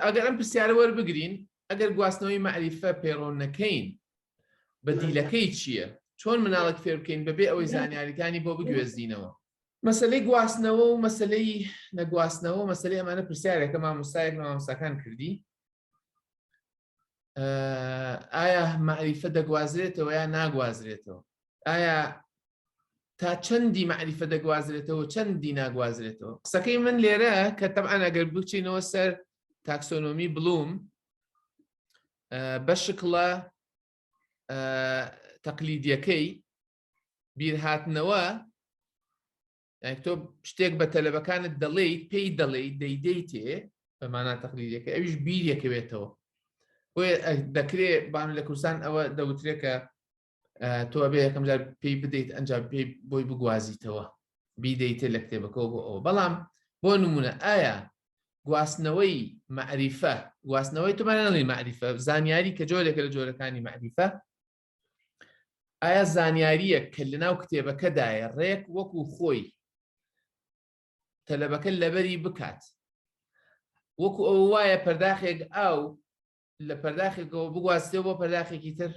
ئەگەر ئەم پرسیارە وەربگرین ئەگەر گواستنەوەی مەعریفە پەیڕۆن نەکەین بەدیلەکەی چییە چۆن مناڵک فێر بکەین بەبێ ئەوەی زانیاریەکانی بۆ بگوێزینەوە مەسلەی گواستنەوە و مەسلەی نەگواستنەوە مەسلەی ئەمانە پرسیارێکە مامۆستایەک مامۆستاکان کردی ئایا مەعریفە دەگوازرێتەوە یا ناگوازرێتەوە ئایا تا چەندی مەعریفە دەگوازرێتەوە چەندی ناگوازرێتەوە قسەکەی من لێرە کە تەبان ئەگەر بچینەوە سەر تاکسۆنۆمی بڵوم بە شکڵە تەقلیدیەکەی بیرهاتنەوە تۆ شتێک بە تەلەبەکانت دەڵێیت پێی دەڵێیت دەیدەیتێ بەمانە تەقلیدەکە ئەویش بیرەکەوێتەوە بۆیە دەکرێت بان لە کوردستان ئەوە دەوترێکە تۆ بێ یەکەم جار پێی بدەیت ئەنج پێی بۆی بگوازیتەوە بیدەیتێ لە کتێبەکەەوە بۆ ئەوە بەڵام بۆ نمونە ئایا گواستنەوەی معریفە گواستنەوەی تومانەڵی معریفە زانیاری کە جۆرێکە لە جۆرەکانی معریفە ئایا زانیاریە کە لە ناو کتێبەکەدایە ڕێک وەکو خۆی تەلەبەکە لەبەری بکات وەکو ئەو وایە پەرداخێک ئاو لە پەرداخێکەوە بگواستێ بۆ پەرداخێکی تر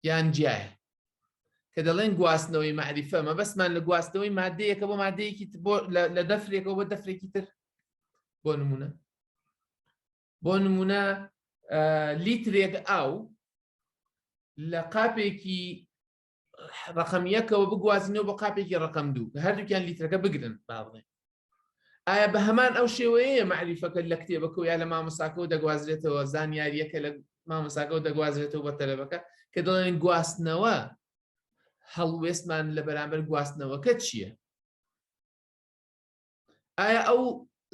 یان جیایە کە دەڵێن گواستنەوەی مەعریفە مەبەستمان لە گواستنەوەی مادەیەکە بۆ مادەیەکی لە دەفرێکەوە بە دەفرێکی تر بۆ نمونە بۆ نمونە لیترێک ئاو لە قاپێکی ڕقم یەکەوە بگوازینەوە بە قاپێکی ڕقم دوو کە هەردووکیان لیترەکە بگرن با بڵێن ئایا بە هەمان ئەو شێوەیە مەعریفەکە لە کتێبەکە یا لە مامۆساکەەوە دەگوازرێتەوە زانیاریەکە لە مامۆساکەەوە دەگوازرێتەوە بە تەلەبەکە کە دەڵێن گواستنەوە هەڵوێستمان لە بەرامبەر گواستنەوەکە چییە؟ ئایا ئەو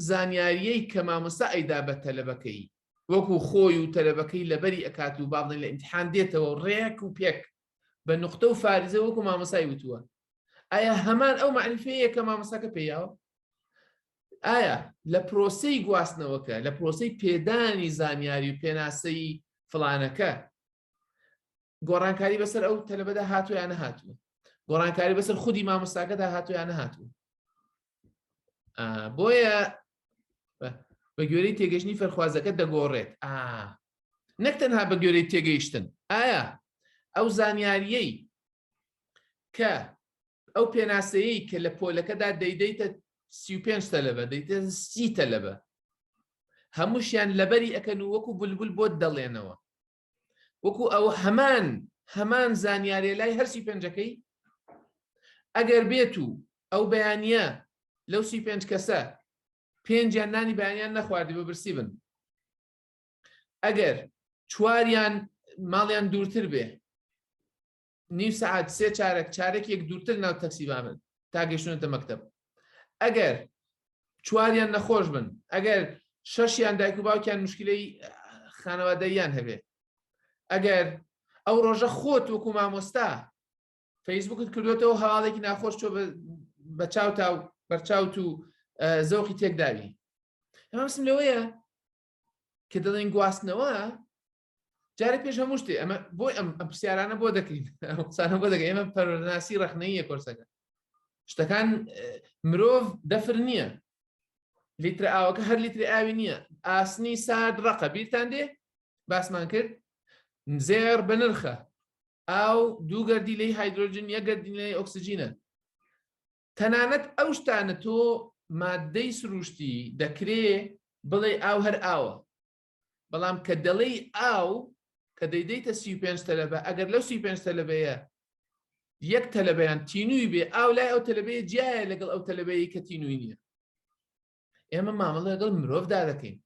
زانیاریەی کە مامۆستا ئەیدا بە تەلەبەکەی وەکو خۆی و تەلەبەکەی لەبەری ئەکات و بابڵێن لە ئیمتحان دێتەوە و ڕێک و پێک بە نقطە و فارزە وەکو مامۆسای وتووە ئایا هەمان ئەو معنیفەیە کە مامۆساکە پێیاوە ئایا لە پرۆسی گواستنەوەکە لە پرۆسی پێدانی زانیاری و پێناسەی فلانەکە گۆڕانکاری بەسەر ئەو تەلبەدا هاتوو یان نەهاتوو گۆڕانکاری بەسەر خودی مامۆستاکەدا هاتوو یان نەهاتوو بۆیە بە گوێرەی تێگەشتنی فەرخوازەکە دەگۆڕێت ئا نەک تەنها بە گوێرەی تێگەیشتن ئایا ئەو زانیاریەی کە ئەو پێناسەیە کە لە پۆلەکەدا دەیدەیتە سی پێنج تەلەبە دەیتە سی تەلەبە هەمووشیان لەبەری ئەەکەن و وەکو بولبول بۆت دەڵێنەوە وەکو ئەوە هەمان هەمان زانیارێ لای هەر سی پێنجەکەی ئەگەر بێت و ئەو بەیانە لەو سی پێنج کەسە پێنجیان نانی بەیانیان نەخواردی بە برسی بن ئەگەر چواریان ماڵیان دوورتر بێ نیو سەعات سێ چارەک چارەکێک دوورتر ناو تەکسی بامن تا گەشتونەتە مەکتب ئەگەر چواریان نەخۆش بن ئەگەر شەشیان دایک و باوکیان مشکلەی خانەوادەیان هەبێ ئەگەر ئەو ڕۆژە خۆت وەکو مامۆستا فەیسبوکت کردوێتەوە هەواڵێکی ناخۆش تۆ بە چاوتا و بەرچاوت و زەوقی تێکداوی ئەمسم لەوەیە کە دەڵێن گواستنەوە جارێک پێش هەموو شتێ ئەمە بۆی ئەم ئەم پرسیارانە بۆ دەکەین قسانە بۆ دەگە ئێمە پەرۆناسی ڕخنەیە کۆرسەکە شتەکان مرۆڤ دەفر نییە لیتر ئاوەکە هەر لیتری ئاوی نییە ئاسنی سارد ڕقە بیرتان دێ باسمان کرد زێر بە نرخە ئاو دوو گەردی لی هایدروۆجین یە گەردینەی ئۆکسسیجینە تەنانەت ئەو شتانە تۆ مادەی سروشتی دەکرێ بڵێ ئاو هەر ئاوە بەڵام کە دەڵێی ئاو کە دەیدەیتە سی و پێنج تەلەبە ئەگەر لەو سی و پێنج تەلەبەیە یەک تەلەبەیان تینووی بێ ئاو لای ئەو تەلەبەیە جیایە لەگەڵ ئەو تەلەبەیە کە تینووی نییە ئێمە مامەڵە لەگەڵ مرۆڤدا دەکەین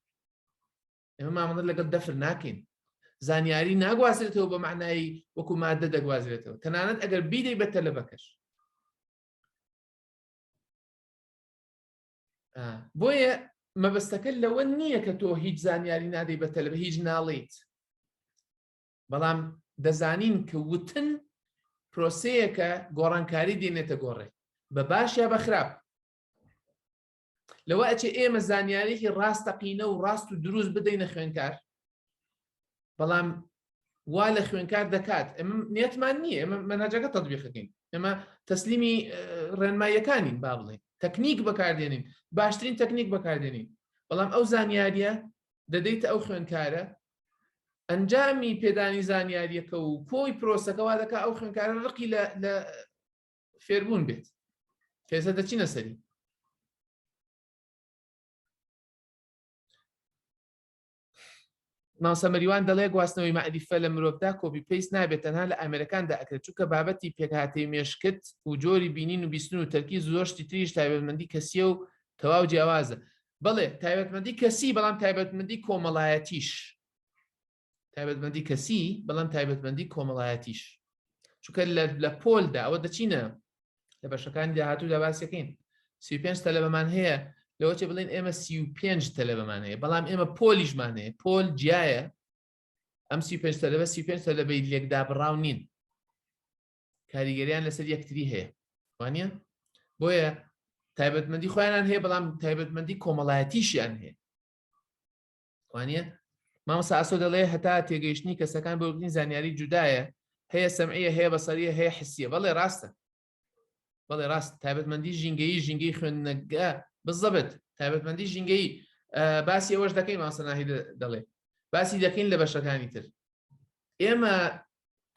ئێمە مامەڵە لەگەڵ دەفر ناکەین زانیاری ناگوازرێتەوە بە معنایی وەکو مادە دەگوازرێتەوە تەنانەت ئەگەر بیدەی بە تەلەبەکەش بۆیە مەبەستەکە لەوە نییە کە تۆ هیچ زانیاری نادەی بە تەلب هیچ ناڵیت بەڵام دەزانین کە وتن پرۆسەیەکە گۆڕانکاری دێنێتە گۆڕێ بە باش یا بە خراپ لەوە ئەچێ ئێمە زانیارێکی ڕاستەقینە و ڕاست و دروست بدەینە خوێنکار بەڵام وا لە خوێنکار دەکات ئەمە نیەتمان نییە ئەمە مەناجەکە تەبیخەکەین ئەمە تەسلیمی ڕێنماییەکانین با بڵێن تەکنیک بەکاردێنین باشترین تەکنیک بەکاردێنین بەڵام ئەو زانیاریە دەدەیتە ئەو خوێنکارە ئەنجامی پێدانی زانیاریەکە و کۆی پرۆسەکەوا دەکە ئەو خوێنکارە ڕقی لە فێربوون بێت پێسە دەچینە سەری مامۆستا مەریوان دەڵێ گواستنەوەی مەعریفە لە مرۆڤدا کۆپی پەیست نابێت تەنها لە ئامێرەکاندا ئەکرێت چونکە بابەتی پێکهاتەی مێشکت و جۆری بینین و بیستن و تەرکیز زۆر شتی تریش تایبەتمەندی کەسیە و تەواو جیاوازە بەڵێ تایبەتمەندی کەسی بەڵام تایبەتمەندی کۆمەڵایەتیش تایبەتمەندی کەسی بەڵام تایبەتمەندی کۆمەڵایەتیش چونکە لە پۆلدا ئەوە دەچینە لە بەشەکانی داهاتوودا باسیەکەین سی پێنج تەلەبەمان هەیە لەوەچێ بڵێن ئێمە سی و پێنج تەلەبەمان هەیە بەڵام ئێمە پۆلیشمان هەیە پۆل جیایە ئەم سی پێنج تەلەبە سی پێنج تەلەبەی لێکدا بڕاو نین کاریگەریان لەسەر یەکتری هەیە وانە بۆیە تایبەتمەندی خۆیانان هەیە بەڵام تایبەتمەندی کۆمەڵایەتیشیان هەیە وانە مامۆسا ئاسۆ دەڵێ هەتا تێگەیشتنی کەسەکان بۆ بگرین زانیاری جودایە هەیە سەمعە هەیە بەسەریە هەیە حسیە بەڵێ ڕاستە بەڵێ ڕاست تایبەتمەندی ژینگەیی ژینگەی خوێندنەگە بزەبێت تایبەتمەندی ژینگەی باسی ئەوەش دەکەین ماسەناهی دەڵێ باسی دەکەین لە بەشەکانی تر ئێمە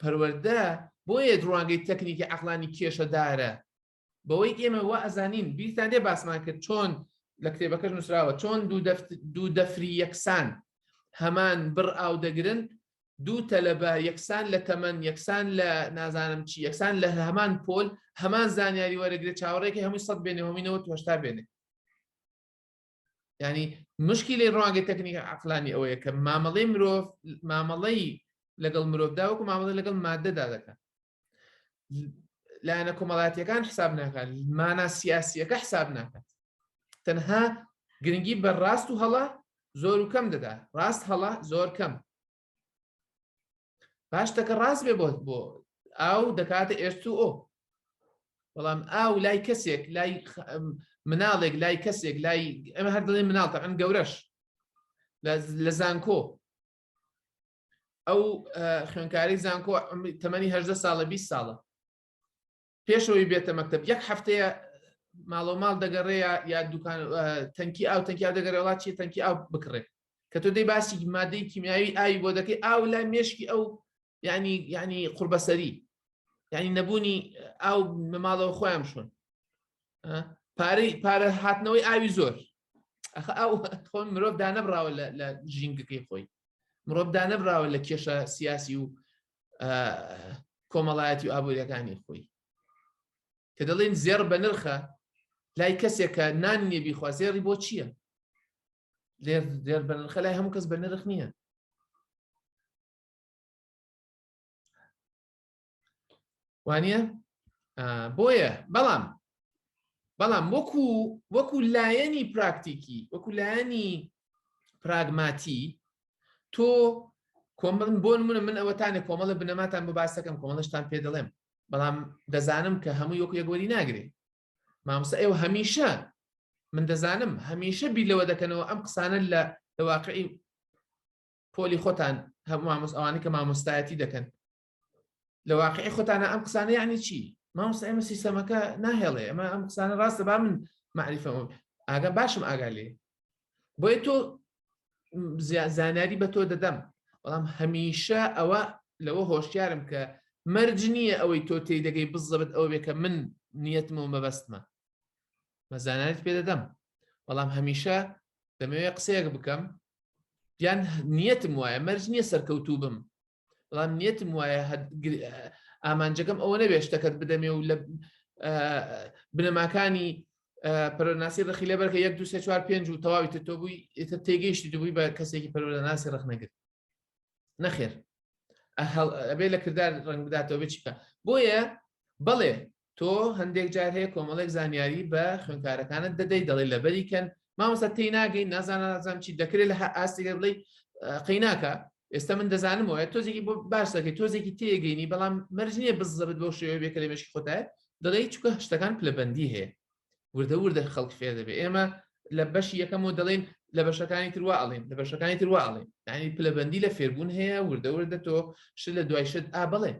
پەروەەردە بۆیە ڕوانگەی تەکنیکی عقلانی کێشەدارە بەوەی ئێمە وا ئەزانین بیرتان لێ باسمان کرد چۆن لە کتێبەکەش نووسراوە چۆن دوو دەفری یەکسان هەمان بڕ ئاو دەگرن دوو تەلەبە یەکسان لە تەمەن یەکسان لە نازانم چی یەکسان لە هەمان پۆل هەمان زانیاری وەرەگرێت چاوەڕێکی هەمووی سەد بێنێ هەمینەوە تۆشتا بێنێ ینی مشکی لێ ڕوانگە تەکنیکە عقلانی ئەوەیە کە مامەڵەی مرۆڤ مامەڵەی لەگەڵ مرۆڤدا وەکو مامەڵە لەگەڵ مادەدا دەکەن لایەنە کۆمەڵاتیەکان حساب ناکات مانا سیاسیەکە حساب ناکات تەنها گرنگی بە ڕاست و هەڵە زۆر و کەم دەدا ڕاست هەڵە زۆر کەم پاشتەکە ڕاست بێ بۆت بۆ ئاو دەکاتە ئێرت و ئۆ بەڵام ئاو لای کەسێک لای مناڵێک لای کەسێک لای ئەمە هەر دڵی مناڵتە ئەم گەورەش لە زانکۆ ئەو خوێنکاری زانکۆ تەمەنی هەدە ساڵە 20 ساڵە پێشەوەی بێتە مەکتب یەک هەفتەیە ماڵۆ ماڵ دەگەڕێە یا دوکان تەنکی ئاو تەنکی ئاو دەگەڕێ وڵات چی تەنکی ئاو بکڕێت کە تۆ دەی باسی مادەی کیمیاوی ئاوی بۆ دەکەی ئاو لای مێشکی ئەو ینی ینی قوربەسەری ینی نەبوونی ئاو مەماڵەوە خۆیان شون پارەی پارە هاتنەوەی ئاوی زۆر ئەخ ئەو خۆن مرۆڤ دانەبراوە لە ژینگەکەی خۆی مرۆڤ دانەبراوە لە کێشە سیاسی و کۆمەڵایەتی و ئابووریەکانی خۆی کە دەڵێن زێڕ بە نرخە لای کەسێکە نان نیە بیخوا زێڕی بۆ چییە لێر زێر بە نرخە لای هەموو کەس بە نرخ نییە وانە بۆیە بەڵام بەڵام وەکو وەکو لایەنی پراکتیکی وەکو لایەنی پراگماتی تۆ کۆمن بۆ منە من ئەوەتانە کۆمەڵە بنەماتان بۆ باسەکەم کۆمەڵشتان پێ دەڵێم بەڵام دەزانم کە هەموو یۆک یەگوەری ناگرێ مامۆستا ئێوە هەمیشە من دەزانم هەمیشە بیر لەوە دەکەنەوە ئەم قسانە لە لەواقعی پۆلی خۆتان هەموو مامۆس ئەوانی کە مامۆستایەتی دەکەن لە واقعی خۆتانە ئەم قسانە یعنی چی مامۆستا ئێمە سیستەمەکە ناهێڵێ ئەمە ئەم قسانە ڕاستە با من معریفەوە ئاگا باشم ئاگا لێ بۆیە تۆ زانیاری بە تۆ دەدەم بەڵام هەمیشە ئەوە لەوە هۆشیارم کە مەرج نییە ئەوەی تۆ تێی دەگەی بزەبت ئەوە بێ کە من نیەتمەوە مەبەستمە مەزانانت پێ دەدەم بەڵام هەمیشە دەمەوێت قسەیەک بکەم یان نیەتم وایە مەرج نییە سەرکەوتوو بم بەڵام نیەتم وایە ئامانجەکەم ئەوە نەبێ شتەکەت بدەمێ و لە بنەماکانی پەرۆناسی ڕخی لە بەرکە یەک دو سێ چوار پێنج و تەواوی تۆ بووی ئێتە تێگەیشتی دوبووی بە کەسێکی پەرۆناسی ڕخ نەگرت نەخێر ئەبێ لە کردار ڕنگ بداتەوە بچکە بۆیە بەڵێ تۆ هەندێک جار هەیە کۆمەڵێک زانیاری بە خوێنکارەکانت دەدەی دەڵی لەبەری کەن مامۆستا تی ناگەین نازانازان چی دەکرێت لە ئاستێک بڵی قەیناکە ئێستا من دەزانم وایە تۆزێکی بۆ باش دەکەی تۆزێکی تێگەینی بەڵام مەرج نییە بزەبت بۆ شێوە بێ کەلێ مشکی خۆتای دەڵی چکە شتەکان پلەبندی هەیە وردە وردە خەڵک فێ دەبێ ئێمە لە بەشی یەکەم و دەڵێن لە بەشەکانی ترواڵێن لە بەشەکانی ترواڵێن ینی پلەبندی لە فێربوون هەیە وردە وردە تۆ شت لە دوای شت ئا بڵێ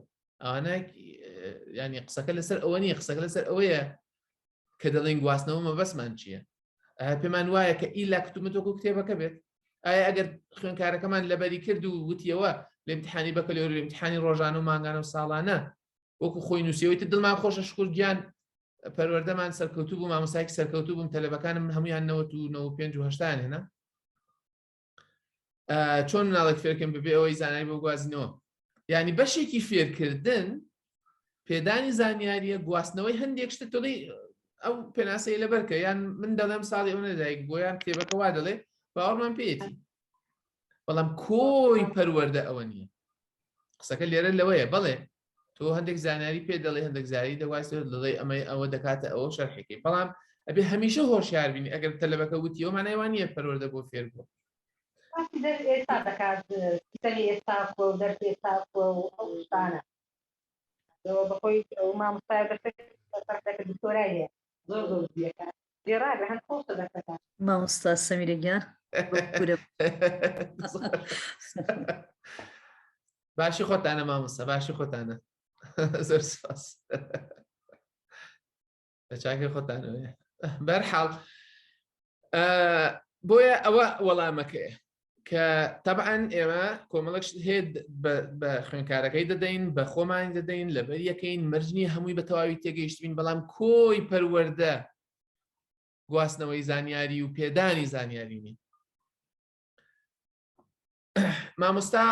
ئانا ینی قسەکە لەسەر ئەوە نیە قسەکە لەسەر ئەوەیە کە دەڵێن گواستنەوە مەبەسمان چییە پێمان وایە کە ئیلا کتومەتۆکو کتێبەکە بێت ئایا ئەگەر خوێنکارەکەمان لەبەری کرد و وتیەوە لە امتحانی بەکەلۆر امتحانی ڕۆژان و مانگانە و ساڵانە وەکو خۆی نووسەوەیت دڵمان خۆشە شکر گیان پەروەردەمان سەرکەوتوو بوو مامۆسایکی سەرکەوتوو بووم تەلەبەکانم هەمویان 1995 هێنا چۆن مناڵێک فێرکەم ببێ ئەوەی زانای بۆ گوازینەوە ینی بەشێکی فێرکردن پێدانی زانیاریە گواستنەوەی هەندێک شتە تۆڵی ئەو پێناسەیە لە بەرکە یان من دەڵێم ساڵی ئەو نەدایک بۆیان کتێبەکە وا دەڵێ باوەڕمان پێێتی بەڵام کۆی پەروەەردە ئەوە نییە قسەکە لێرە لەوەیە بڵێ تۆ هەندێک زانیاری پێ دەڵێ هەندێک زاری دەواز دەڵێ ئەمەی ئەوە دەکاتە ئەوە شەرحێکی بەڵام ئەبێ هەمیشە هۆشیار بین ئەگەر تەلەبەکە وتی ئەو مانایوان نیە پەروەەردە بۆ فێر بوو ئێستا دەکات سەری ئێستا و دەرس ئێستا و ئەو شتانە بەخۆی ئەو مامۆستای بەسەر دکتۆرای هەیە زۆر زۆر بیەکە گێڕاگە هەم خۆشە دەکەتە. مامۆستا سەمیرە گیان بەکورە باشی خۆتانە مامۆستا باشی خۆتانە زۆر سپاس لە چاکە خۆتانەوەێ بەرحاڵ بۆیە ئەوە وەڵامەکەی کە تەبعاان ئێمە کۆمەڵک هێت بە خوێنکارەکەی دەدەین بە خۆمان دەدەین لەبەر یەکەین مەرجنی هەمووی بە تەواوی تێگەیشتبین بەڵام کۆی پەروەەردە گواستنەوەی زانیاری و پێدانی زانیاری نین مامۆستا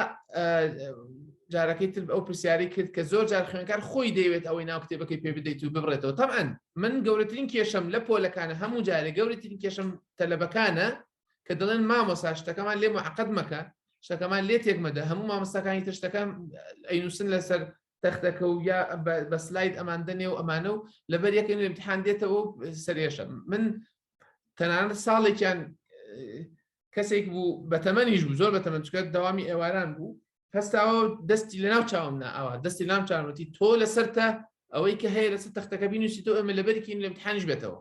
جارەکەی تر ئەو پرسیاری کرد کە زۆر جار خوێنکار خۆی دەیەوێت ئەوەی ناو کتێبەکەی پێ بدەیت و ببڕێتەوە تەمان من گەورەترین کێشم لە پۆلەکانە هەموو جارێک گەورەترین کێشم تەلەبەکانە کە دەڵێن مامۆسا شتەکەمان لێ معقد مەکە شتەکەمان لێ تێکمەدە هەموو مامۆستاکانی تر شتەکان ئەینووسن لەسەر تەختەکە و یا بە سلاید ئەمان دەنێ و ئەمانە و لەبەر یەکەن امتحان دێتەوە سەرێشە من تەنان ساڵێکیان کەسێک بوو بە تەمەنیش بوو زۆر بە تەمەن چکە داوامی ئێواران بوو هەستاوە دەستی لە ناو چاوم ناوە دەستی لام چاوەتی تۆ لەسەر تە ئەوەی کە هەیە لەسەر تەختەکە بینوسی تۆ ئەمە لەبەرکین لە امتحانش بێتەوە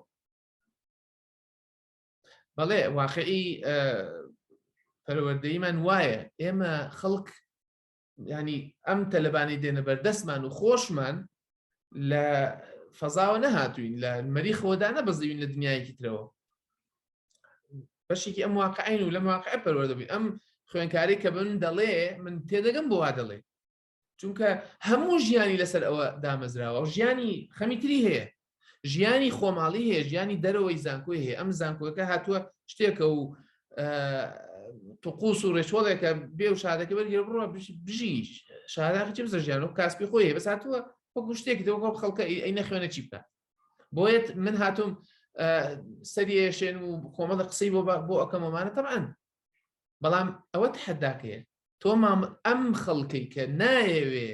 بەڵێ واقعی پەروەردەیمان وایە ئێمە خەڵک ینی ئەم تەلبانی دێنە بەردەستمان و خۆشمان لە فەزاوە نەهاتوین لە مەری خۆدا نەبەزیوین لە دنیایەکی ترەوە بەشێکی ئەم واقعین و لە واقع پەروەدەبی ئەم خوێنکاری کە بن دەڵێ من تێدەگەم بۆ وا دەڵێ چونکە هەموو ژیانی لەسەر ئەوە دامەزراوە و ژیانی خەمیتری هەیە ژیانی خۆماڵی هەیە ژیانی دەرەوەی زانکۆی هەیە ئەم زانکۆەکە هاتووە شتێکە و تقوس و ڕێچۆڵێکە بێ و شادەکە بەرگێ بڕە بژی شاداخی چ بزە ژیان و کاسپی خۆی بەس هاتووە وەکو شتێکی دەوە خەڵکە ئەی نەخوێنە چی بکات بۆیت من هاتووم سەریێشێن و کۆمەڵە قسەی بۆ بۆ ئەەکەمەمانە تەعاان بەڵام ئەوە تحداکەیە تۆ مام ئەم خەڵکەی کە نایەوێ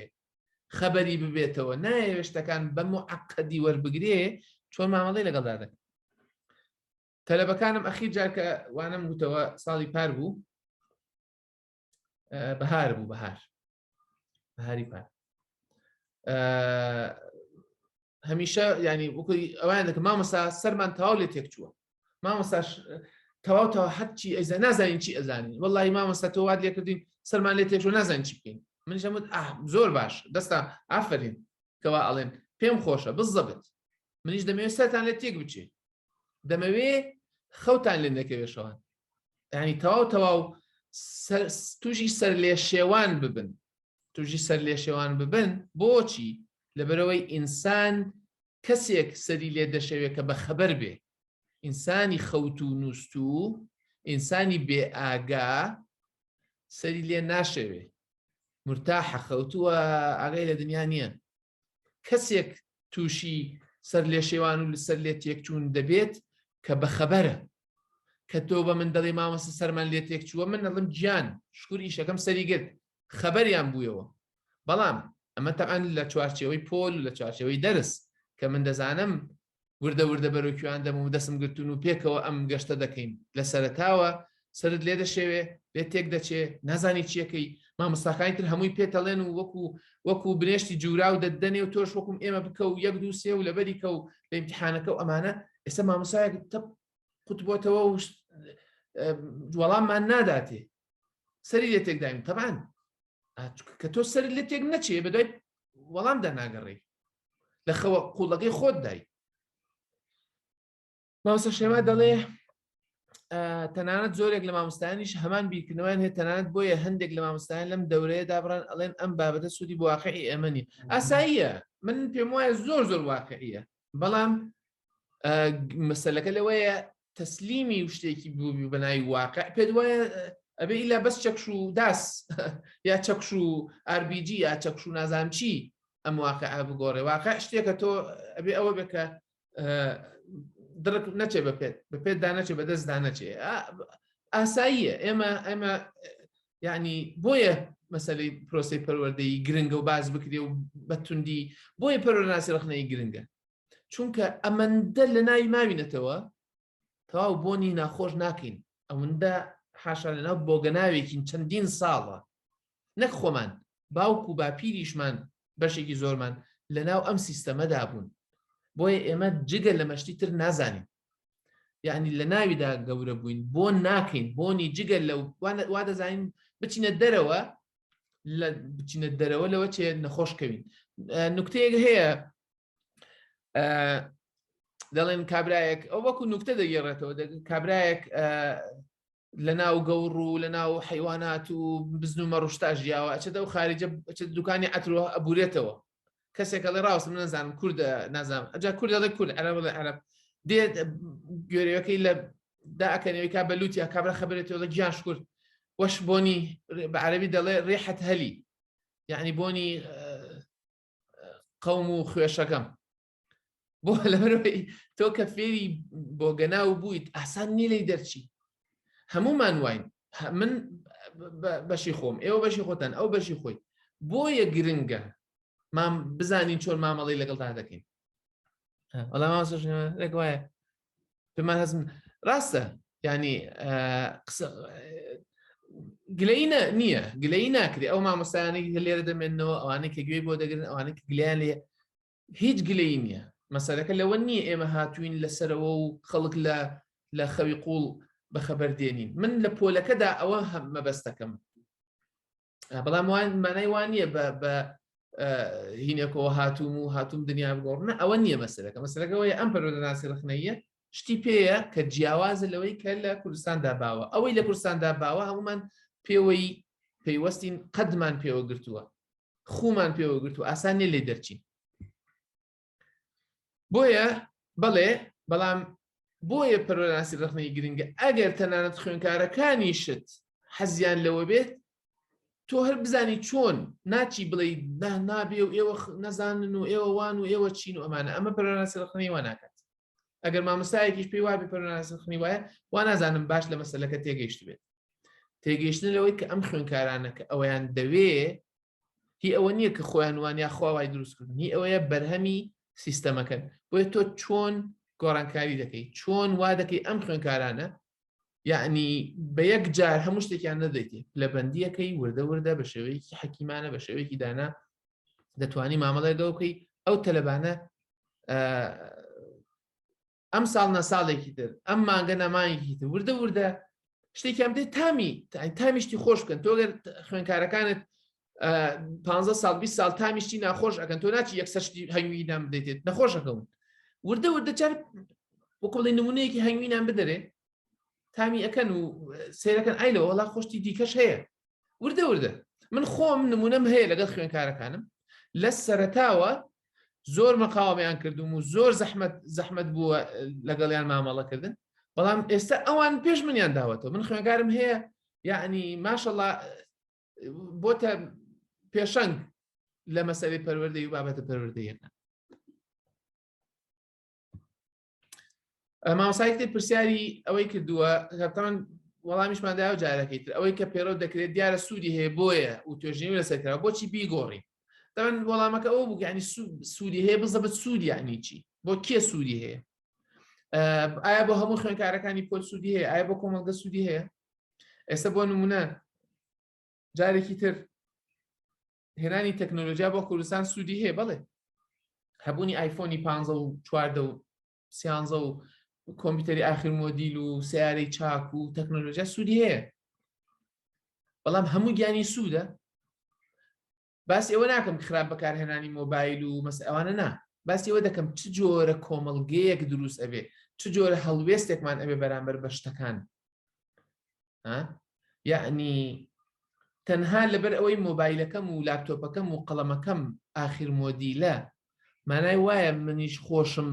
خەبەری ببێتەوە نایەوێ شتەکان بەم و عقدی وەربگرێ چۆن مامەڵی لەگەڵدا دەکەن تەلەبەکانم ئەخی جارکە وانم گوتەوە ساڵی پار بوو بەهار بوو بەهار هاری پار هەمیشە ینی وکوی ئەوان دەکە مامەسا سەرمان تاو لێ تێک چووە مامەساش تەواوتەوە هەرچی ئەزە نازانین چی ئەزانین وڵی مامەستا تۆ وات لێکردین سەرمان لێ تێکشوە نازان چی بکەین من ژەمت زۆر باش دەستا ئافرین کەوا ئەڵێن پێم خۆشە بزەبت منیش دەمەوێت سەران لێ تێک بچێت دەمەوێ خەوتان لێ نەکەوێ شەوان ینی تەواو تەواو توژی سەر لێ شێوان ببن توژی سەر لێ شێوان ببن بۆچی لەبەرەوەی ئینسان کەسێک سەری لێ دەشەوێت کە بە خەبەر بێ ئینسانی خەوت و نووست و ئینسانی بێ ئاگا سەری لێ ناشەوێ مرتاحە خەوتووە ئاگای لە دنیا نییە کەسێک تووشی سەر لێ شێوان و لەسەر لێ تێکچوون دەبێت کە بەخەبەرە کە تۆ بە من دەڵی مامەسە سەرمان لێ تێک چووە من نەڵم گیان شکور ئیشەکەم سەری گرت خەبەریان بوویەوە بەڵام ئەمە تەعاان لە چوارچەوەی پۆل و لە چوارچەوەی دەرس کە من دەزانم وردە وردە بەرەو کوێیان دەم و دەستم گرتوون و پێکەوە ئەم گەشتە دەکەین لە سەرەتاوە سرت لێ دەشێوێ لێ تێک دەچێ نازانی چیەکەی مامۆستاکانی تر هەمووی پێتەڵێن و وەکو وەکو برێشتی جورا و دەدەنێ و تۆش وەکم ئێمە بکە و یەک دووسێ و لەبەری کە و لە امتحانەکە و ئەمانە ئێستا مامۆسایەک تەپ قوتبتەوە و وەڵاممان ناداتێ سەری لێ تێکداین تەبان کە تۆ سەر لێ تێک نەچێ بە دوای وەڵام دەناگەڕی لە خەوە قوڵەکەی خۆت دای ماوسە شێما دەڵێ تەنانەت زۆرێک لە مامۆستایانیش هەمان بیرکردنەوەیان هەیە تەنانەت بۆیە هەندێک لە مامۆستایان لەم دەورەیە دابڕان ئەڵێن ئەم بابەتە سوودی بۆ واقعی ئێمەنی ئاساییە من پێم وایە زۆر زۆر واقعیە بەڵام مەسلەکە لەوەیە تەسلیمی و شتێکی بووبی بەناوی واقع پێت وایە ئەبێ ئیلا بەس چەکش و داس یا چەکش و ئاربیجی یا چەکش و نازانام چی ئەم واقع بگۆڕێ واقع شتێکە تۆ ئەبێ ئەوە بکە دڕک نەچێ بە پێت بە پێتدا نەچێ بە دەستدا نەچێ ئاساییە ئێمە ئێمە یعنی بۆیە مەسەی پرۆسی پەروەردەی گرنگە و باز بکرێ و بەتوندی بۆیە پەرۆناسی ڕخنەی گرنگە چونکە ئەمەندە لە ناوی ماوینەتەوە تەواو بۆنی ناخۆش ناکەین ئەوەندە حاشا لەناو بۆگەناوێکین چەندین ساڵە نەک خۆمان باوک و باپیریشمان بەشێکی زۆرمان لەناو ئەم سیستەمەدا بوون بۆیە ئێمە جگە لە مەشتی تر نازانین یعنی لە ناویدا گەورە بووین بۆ ناکەین بۆنی جگە لە وا دەزانین بچینە دەرەوە لە بچینە دەرەوە لەوە چێ نەخۆشکەوین نکتەیەک هەیە دەڵێن کابراایەک ئەو وەکو نکتە دەگەڕێتەوە کابراایەک لە ناو گەوڕ و لە ناو حیوانات و بزن و مەڕشتا ژیاوە ئەچێتەوە خارجە دوکانی ئەترۆ ئەبورێتەوە کەسێک ئەڵێ ڕاوسم نەزانم کورد نازانم ئەجا کورد ئەڵێ کورد عەرە بڵێ عەرب دێ گوێرەکەی لە داکەنەوەی کا بەلووتیا کابرا خبرێتەوە گیان شکرد وەش بۆنی بە عەربی دەڵێ ڕێحەت هەلی یعنی بۆنی قەوم و خوێشەکەم بۆ لەبەرەوەی تۆ کە فێری بۆگەناو بوویت ئاسان نی لی دەرچی هەمومان واین من بەشی خۆم ئێوە بەشی خۆتان ئەو بەشی خۆی بۆیە گرنگە مام بزانین چۆن مامەڵی لەگەڵ تا دەکەین وەڵامەگوایە پێمان هەزم ڕاستە ینی گلینە نییە گلەی ناکرێت ئەو مامۆستایانی لێرە دەمێنەوە ئەوانەی کە گوێی بۆ دەگرن ئەوانەی گلیان لێ هیچ گلەیی نییە مەسەلەکە لەوە نییە ئێمە هاتوین لە سەرەوە و خەڵک لە لە خەوی قوڵ بەخەبەر دێنین من لە پۆلەکەدا ئەوە هەم مەبەستەکەم بەڵام وان مانای وان نییە بە بە هینێکەوە هاتووم و هاتووم دنیا بگۆڕنە ئەوە نییە مەسەرەکە مەسەرەکەەوەی ئەم پەرۆدەناسی ڕخنەیە شتی پێیە کە جیاوازە لەوەی کە لە کوردستاندا باوە ئەوەی لە کوردستاندا باوە هەمومان پێوەی پەیوەستین قەدمان پێوە گرتووە خومان پێوە گرت و ئاسان نێ لێ دەرچین بۆیە بەڵێ بەڵام بۆیە پەرۆناسی ڕخنەی گرنگە ئەگەر تەنانەت خوێنکارەکانیشت حەزیان لەوە بێت تۆ هەر بزانی چۆن ناچی بڵێ نابێ و ئێوە نەزانن و ئێوە وان و ئێوە چین و ئەمانە ئەمە پەرۆناسی ڕخنەی واناکات ئەگەر مامۆستایەکیش پێی وابێ پەرۆناسی خنی وایە وا نازانم باش لە مەسلەکە تێگەیشت بێت تێگەیشتن لەوەی کە ئەم خوێنکارانە کە ئەویان دەوێ هی ئەوە نییە کە خۆیان وانیا خواوای دروستکردن هی ئەوەیە بەرهەمی سیستەمەکەن بۆیە تۆ چۆن گۆڕانکاری دەکەیت چۆن وا دەکەی ئەم خوێنکارانە یعنی بە یەک جار هەموو شتێکیان نەدەیتێ پلەبندیەکەی وردە وردە بە شێوەیەکی حەکیمانە بە شێوەیەکی دانا دەتوانی مامەڵێ دەوکەی ئەو تەلەبانە ئەم ساڵ نە ساڵێکی تر ئەم مانگە نەمانێکی تر وردە وردە شتێکیان بدەیت تامی تامیشتی خۆش بکەن تۆگەر خوێنکارەکانت پ سال 20 سال تامیشتی ناخۆش ئەەکەن تۆ ناچی یەکسەر شتی هەنگوی نام بدەێت نەخۆشەکەون وردە وردە چار وکڵی نمونەیەکی هەنگوی نام بدەێ تامی ئەەکەن و سێرەکەن ئای لە وڵا خۆشتی دیکەش هەیە وردە وردە من خۆم نمونەم هەیە لەگەڵ خوێنکارەکانم لە سەرتاوە زۆر مەقاومیان کردوم و زۆر زەحمت زەحمت بووە لەگەڵیان مامەڵەکردن بەڵام ئێستا ئەوان پێش منیان داوەتەوە من خوێنگارم هەیە یعنی ماشەڵ بۆتە پێشەنگ لە مەسەوی پەروەردەی و بابەتە پەروەردەیەکە مامسایتێ پرسیاری ئەوەی کردووە هەتان وەڵامیشمان دا و جارەکەی تر ئەوەی کە پێرۆ دەکرێت دیارە سوودی هەیە بۆیە و توێژنی لەسەرکرا بۆچی بیگۆڕی تەن وەڵامەکە ئەو بوو ینی سوودی هەیە بزەبت سوودی ینی چی بۆ کێ سوودی هەیە ئایا بۆ هەموو خوێنکارەکانی پۆل سوودی هەیە ئایا بۆ کۆمەڵگە سوودی هەیە ئێستا بۆ نمونە جارێکی تر هێنانی تەکنۆلۆژیا بۆ کوردستان سوودی هەیە بڵێ هەبوونی ئایفۆنی پ و چواردە و سیانزە و کۆمپیوتەری ئاخر مۆدیل و سیارەی چاک و تەکنۆلۆژیا سوودی هەیە بەڵام هەموو گیانی سوودە باسی ئەوە ناکەم خراپ بەکارهێنانی مۆبایل و مەس ئەوانە نا باسی ئەوە دەکەم چ جۆرە کۆمەڵگەیەک دروست ئەبێ چ جۆرە هەڵوێستێکمان ئەبێ بەرامبەر بە شتەکان یعنی تەنها لەبەر ئەوەی مۆبایلەکەم و لاپتۆپەکەم و قەڵەمەکەم ئاخیر مۆدیلە مانای وایە منیش خۆشم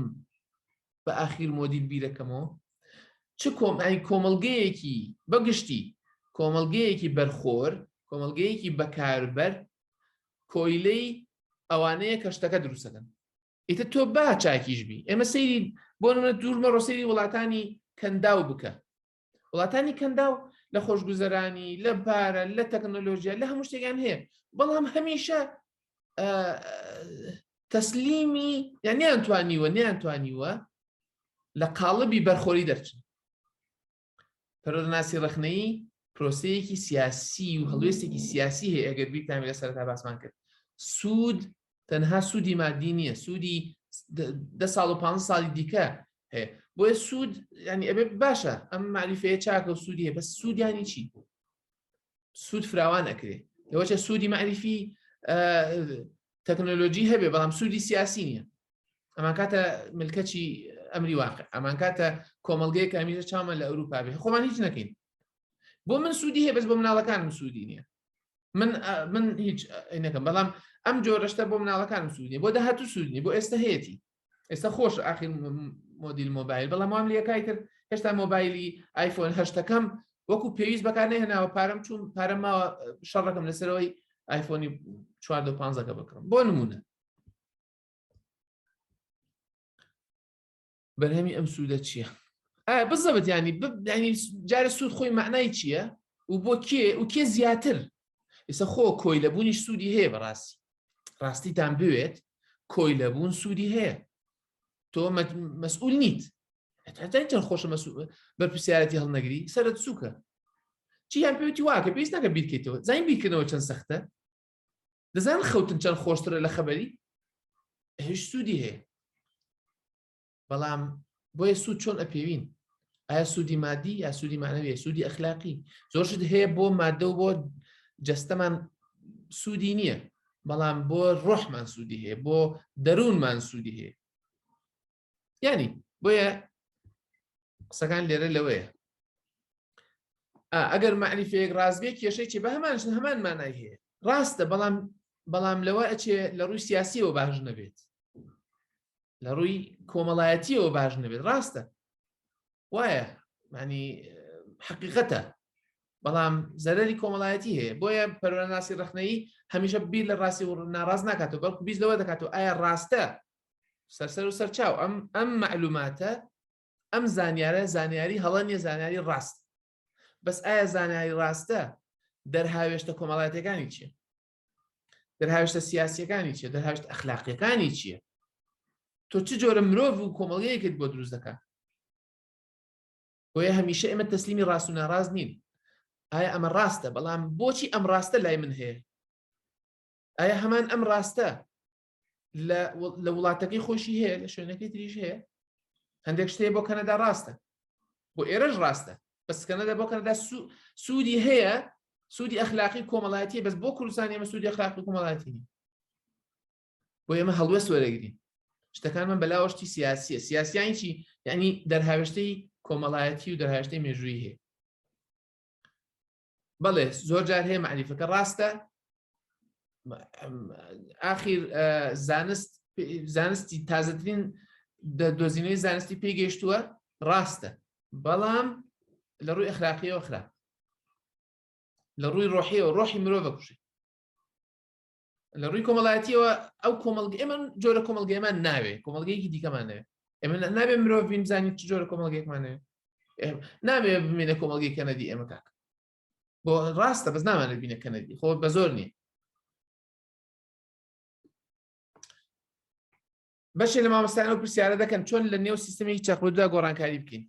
بە ئاخیر مۆدیل بیرەکەمەوە چ کۆمای کۆمەلگەیەکی بەگشتی کۆمەلگەیەکی بەرخۆر کۆمەلگەیەکی بەکاربەر کۆیلەی ئەوانەیە کە شتەکە دروستەکەن ئیتە تۆ با چاکیش بی ئێمە سەیری بۆ دوور مەڕۆسەری وڵاتانی کەنداو بکە وڵاتانی کەنداو لە خۆشگوزەرانی لە پارە لە تەکنۆلۆژیا لە هەموو شتێکیان هەیە بەڵام هەمیشە تەسلیمی یانیان توانیوە نیان توانیوە لە قاڵبی بەرخۆری دەرچن پەرۆدەناسی ڕخنەی پرۆسەیەکی سیاسی و هەڵوێستێکی سیاسی هەیە ئەگەر بیرتان لە سەرتا باسمان کرد سوود تەنها سوودی مادی نییە سوودی دە ساڵ و پ ساڵی دیکە هەیە بۆیە سوود ینی ئەبێ باشە ئەم معریفەیە چاکە و سوودیە بە سوودیانی چی سوود فراوان ئەکرێ لەوەچە سوودی معریفی تەکنۆلۆژی هەبێ بەڵام سوودی سیاسی نییە ئەمان کاتە ملکەچی ئەمری واقع ئەمان کاتە کۆمەلگەی کامیژە چاومە لە ئەوروپا بێ خۆمان هیچ نەکەین بۆ من سوودی هەیە بەس بۆ مناڵەکانم سوودی نییە من من هیچ نەکەم بەڵام ئەم جۆرەشتە بۆ مناڵەکانم سوودنی بۆ داهاتوو سوودنی بۆ ئێستا هەیەی ئێستا خۆش ئاخی مۆدیل مۆبایل بەڵام وام لەکای تر هێشتا مۆبایلی ئایفۆن هەشتەکەم وەکو پێویست بەکانێ هێناوە پارەم چون پارەم ماوە شەڕەکەم لەسەرەوەی ئایفۆنی 4 بکڕم بۆ نمونە بەرهەمی ئەم سوودە چییە؟ ئایا بزەبت ینی ینی جارە سوود خۆی معنای چییە و بۆ کێ و کێ زیاتر ئێستا خۆ کۆی لە بوونیش سوودی هەیە بەڕاستی ڕاستیتان بوێت کۆی لە بوون سوودی هەیە تۆ مەسئول نیت تەن خۆشە بەرپسیارەتی هەڵنەگری سەرت سووکە چیان پێوتی واکە پێویست ناکە بیرکەیتەوە زین بیرکردنەوە چەند سەختە دەزان خەوتن چەند خۆشترە لە خەبەری هیچ سوودی هەیە بەڵام بۆیە سوود چۆن ئەپێوین ئایا سوودی مادی یا سوودی مانەوێ سوودی ئەخلاقی زۆرشت هەیە بۆ مادە و بۆ جەستەمان سوودی نییە بەڵام بۆ ڕۆحمان سوودی هەیە بۆ دەروونمان سوودی هەیە یعنی بۆیە قسەکان لێرە لەوەیە ئەگەر معریفەیەک ڕازبێ کێشەی چی بە هەمان هەمان مانای هەیە ڕاستە بەڵام بەڵام لەوە ئەچێ لە ڕووی سیاسیەوە باش نەبێت لە ڕووی کۆمەڵایەتیەوە باش نەبێت ڕاستە وایە معنی حقیقەتە بەڵام زەرری کۆمەڵایەتی هەیە بۆیە پەرۆناسی ڕخنەی هەمیشە بیر لە ڕاستی و ناڕاز ناکاتەوە بەڵکو بیست لەوە دەکاتەوە ئایا ڕاستە سەرسەر و سەرچاو ئەم ئەم معلوماتە ئەم زانیارە زانیاری هەڵە نیە زانیاری ڕاست بەس ئایا زانیاری ڕاستە دەرهاوێشتە کۆمەڵاتەکانی چیە دەرهاوێشتە سیاسەکانی چیە دەرهاوێشت ئەخلاقیەکانی چیە تۆ چ جۆرە مرۆڤ و کۆمەڵیەکت بۆ دروست دەکات بۆیە هەمیشە ئێمە تەسلیمی ڕاست و ناڕاست نین ئایا ئەمە ڕاستە بەڵام بۆچی ئەم ڕاستە لای من هەیە ئایا هەمان ئەم ڕاستە لە وڵاتەکەی خۆشی هەیە لە شوێنەکەی تریش هەیە هەندێک شتێ بۆ کەنەدا ڕاستە بۆ ئێرەش ڕاستە بەس کەنەدا بۆ کەنەدا سوودی هەیە سوودی ئەخلاقی کۆمەڵاتی بەس بۆ کوردستان ئێمە سوودی ئەخلاقی کۆمەڵاتی بۆ ئێمە هەڵوێ سوەرەگرین شتەکانمان بەلاوەشتی سیاسیە سیاسیانی چی یعنی دەرهاوێشتەی کۆمەڵایەتی و دەرهاوێشتەی مێژووی هەیە بەڵێ زۆر جار هەیە مەعریفەکە ڕاستە ئاخیر زانست زانستی تازەترین دۆزینەوەی زانستی پێگەیشتووە ڕاستە بەڵام لە ڕووی ئەخراقیەوە خراپ لە ڕووی ڕۆحیەوە ڕۆحی مرۆڤە کوشی لە ڕووی کۆمەڵایەتیەوە ئەو کۆمەڵگ ئێمە جۆرە کۆمەڵگەمان ناوێ کۆمەڵگەیەکی دیکەمانێ ئێمە نابێ مرۆڤ بین بزانین چ جۆرە کۆمەڵگەێکمانێ نابێ بمینە کۆمەڵگەی کەنەدی ئێمە کاک بۆ ڕاستە بەس نامانە بینە کەنەدی خۆ بە زۆر نییە بەشێ لە مامۆستایان و پرسیارە دەکەن چۆن لە نێو سیستمی چەقبدا گۆڕانکاری بکەین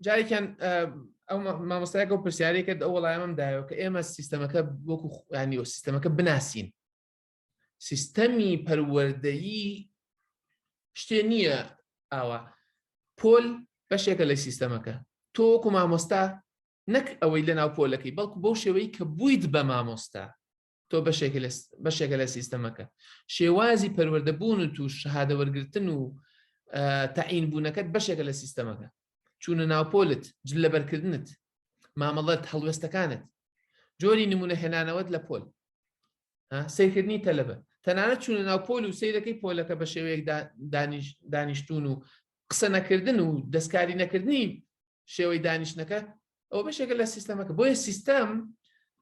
جارێکیان ئەو مامۆستایەکە و پرسیارێکە ئەو وڵایەمەم دایەوە کە ئێمە سیستەمەکە وەکو خوانی و سیستەمەکە بناسین سیستەمی پەروەردەیی شتێ نییە ئاوا پۆل بەشێکە لە سیستەمەکە تۆ وەکو مامۆستا نەک ئەوەی لە ناو پۆلەکەی بەڵکو بەو شێوەی کە بوویت بە مامۆستا تۆ بەشێکە لە سیستەمەکە شێوازی پەروەردەبوون و توش شەهادەوەرگتن و تەعین بوونەکەت بەشێکە لە سیستەمەکە چوونە ناوپۆلت جل لەبەرکردنت مامەڵەت هەڵوێستەکانت جۆری نمونە هێنانەوەت لە پۆل سیرکردنی تەلەبە تەنانەت چوونە ناو پۆل و سیرەکەی پۆلەکە بە شێوەیەک دانیشتون و قسە نەکردن و دەستکاری نەکردنی شێوەی دانیشتنەکە ئەو بەشێکە لە سیستەمەکە بۆیە سیستەم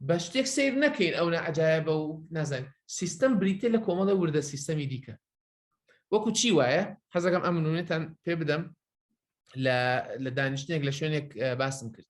بە شتێک سیر نەکەین ئەو نەعجاایە بە و نازانین سیستەم بریتە لە کۆمەڵە وردە سیستەمی دیکە وەکو چی وایە حەزەکەم ئەمنونێتان پێ بدەم لە دانیشتێک لە شوێنێک باسم کرد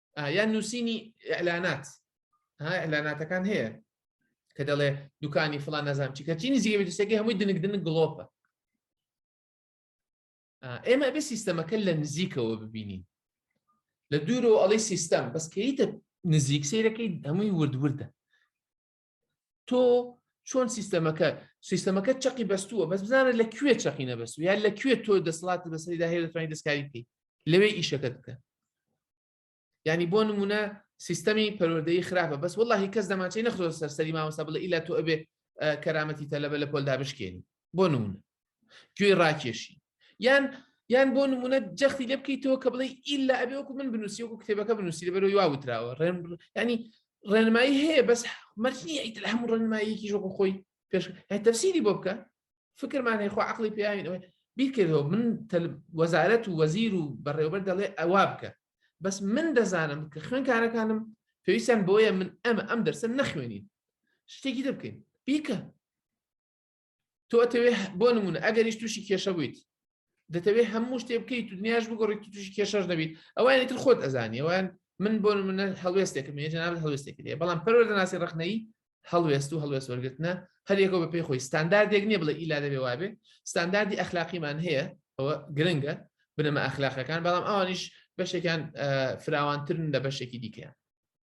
یان نووسینی ئەلانات ها ئەلاناتەکان هەیە کە دەڵێ دوکانی فلان نازانام چی کەچینی زیێویستەکەی هەمووی دنگ دنگ گڵۆپە ئێمە بێ سیستەمەکە لە نزیکەوە ببینین لە دوورەوە ئەڵی سیستەم بەس کەیتە نزیک سیرەکەی هەمووی وردوردە تۆ چۆن سیستەمەکە سیستەمەکە چقی بەستووە بەس بزانە لە کوێ چقی نەبەست یان لە کوێ تۆ دەسڵات بەسەریدا هەیە دەتوانین دەستکاری بکەیت لەوێ ئیشەکە بکە ینی بۆ نمونە سیستەمی پەروەردەی خراپە بەس وڵی کەس دەماچەی نەخۆ سەرسەری مامەسا بڵێ ئیلا تۆ ئەبێ کەرامەتی تەلەبە لە پۆلدا بشکێنی بۆ نمونە گوێی ڕاکێشی یان یان بۆ نمونە جەختی لێ بکەیتەوە کە بڵێ ئیلا ئەبێ وەکو من بنووسی وەکو کتێبەکە بنووسی لە بەرەوە واوتراوە ڕێن ینی ڕێنمایی هەیە بەس مەرجنی ئەیت لە هەموو ڕێنماییەکی ژۆکو خۆی پێش تەفسیری بۆ بکە فکرمان هەیەخوا عقلی پیاوینەوەی بیرکردەوە من وەزارەت و وەزیر و بەڕێوبەر دەڵێ ئەوا بکە بەس من دەزانم کە خوێنکارەکانم پێویستیان بۆیە من ئەمە ئەم دەرسە نەخوێنین شتێکی دەبکەین بیکە تۆ ئەتەوێ بۆ نمونە ئەگەریش تووشی کێشە بوویت دەتەوێت هەموو شتێ بکەیت تو دنیاش بگۆڕیت تووشی کێشەش نەبیت ئەوانی تر خۆت ئەزانی ئەوان من بۆ منە هەڵوێستێکم جناب هەڵوێستێک لێ بەڵام پەروەر دەناسی ڕخنەی هەڵوێست و هەڵوێست وەرگتنە هەرێکۆ بە پێی خۆی ستانداردێک نییە بڵێ ئیلا دەبێ وابێ ستانداردی ئەخلاقیمان هەیە ئەوە گرنگە بنەمە ئەخلاقەکان بەڵام ئەوانیش بەشێکان فراوانترن لە بەشێکی دیکەیان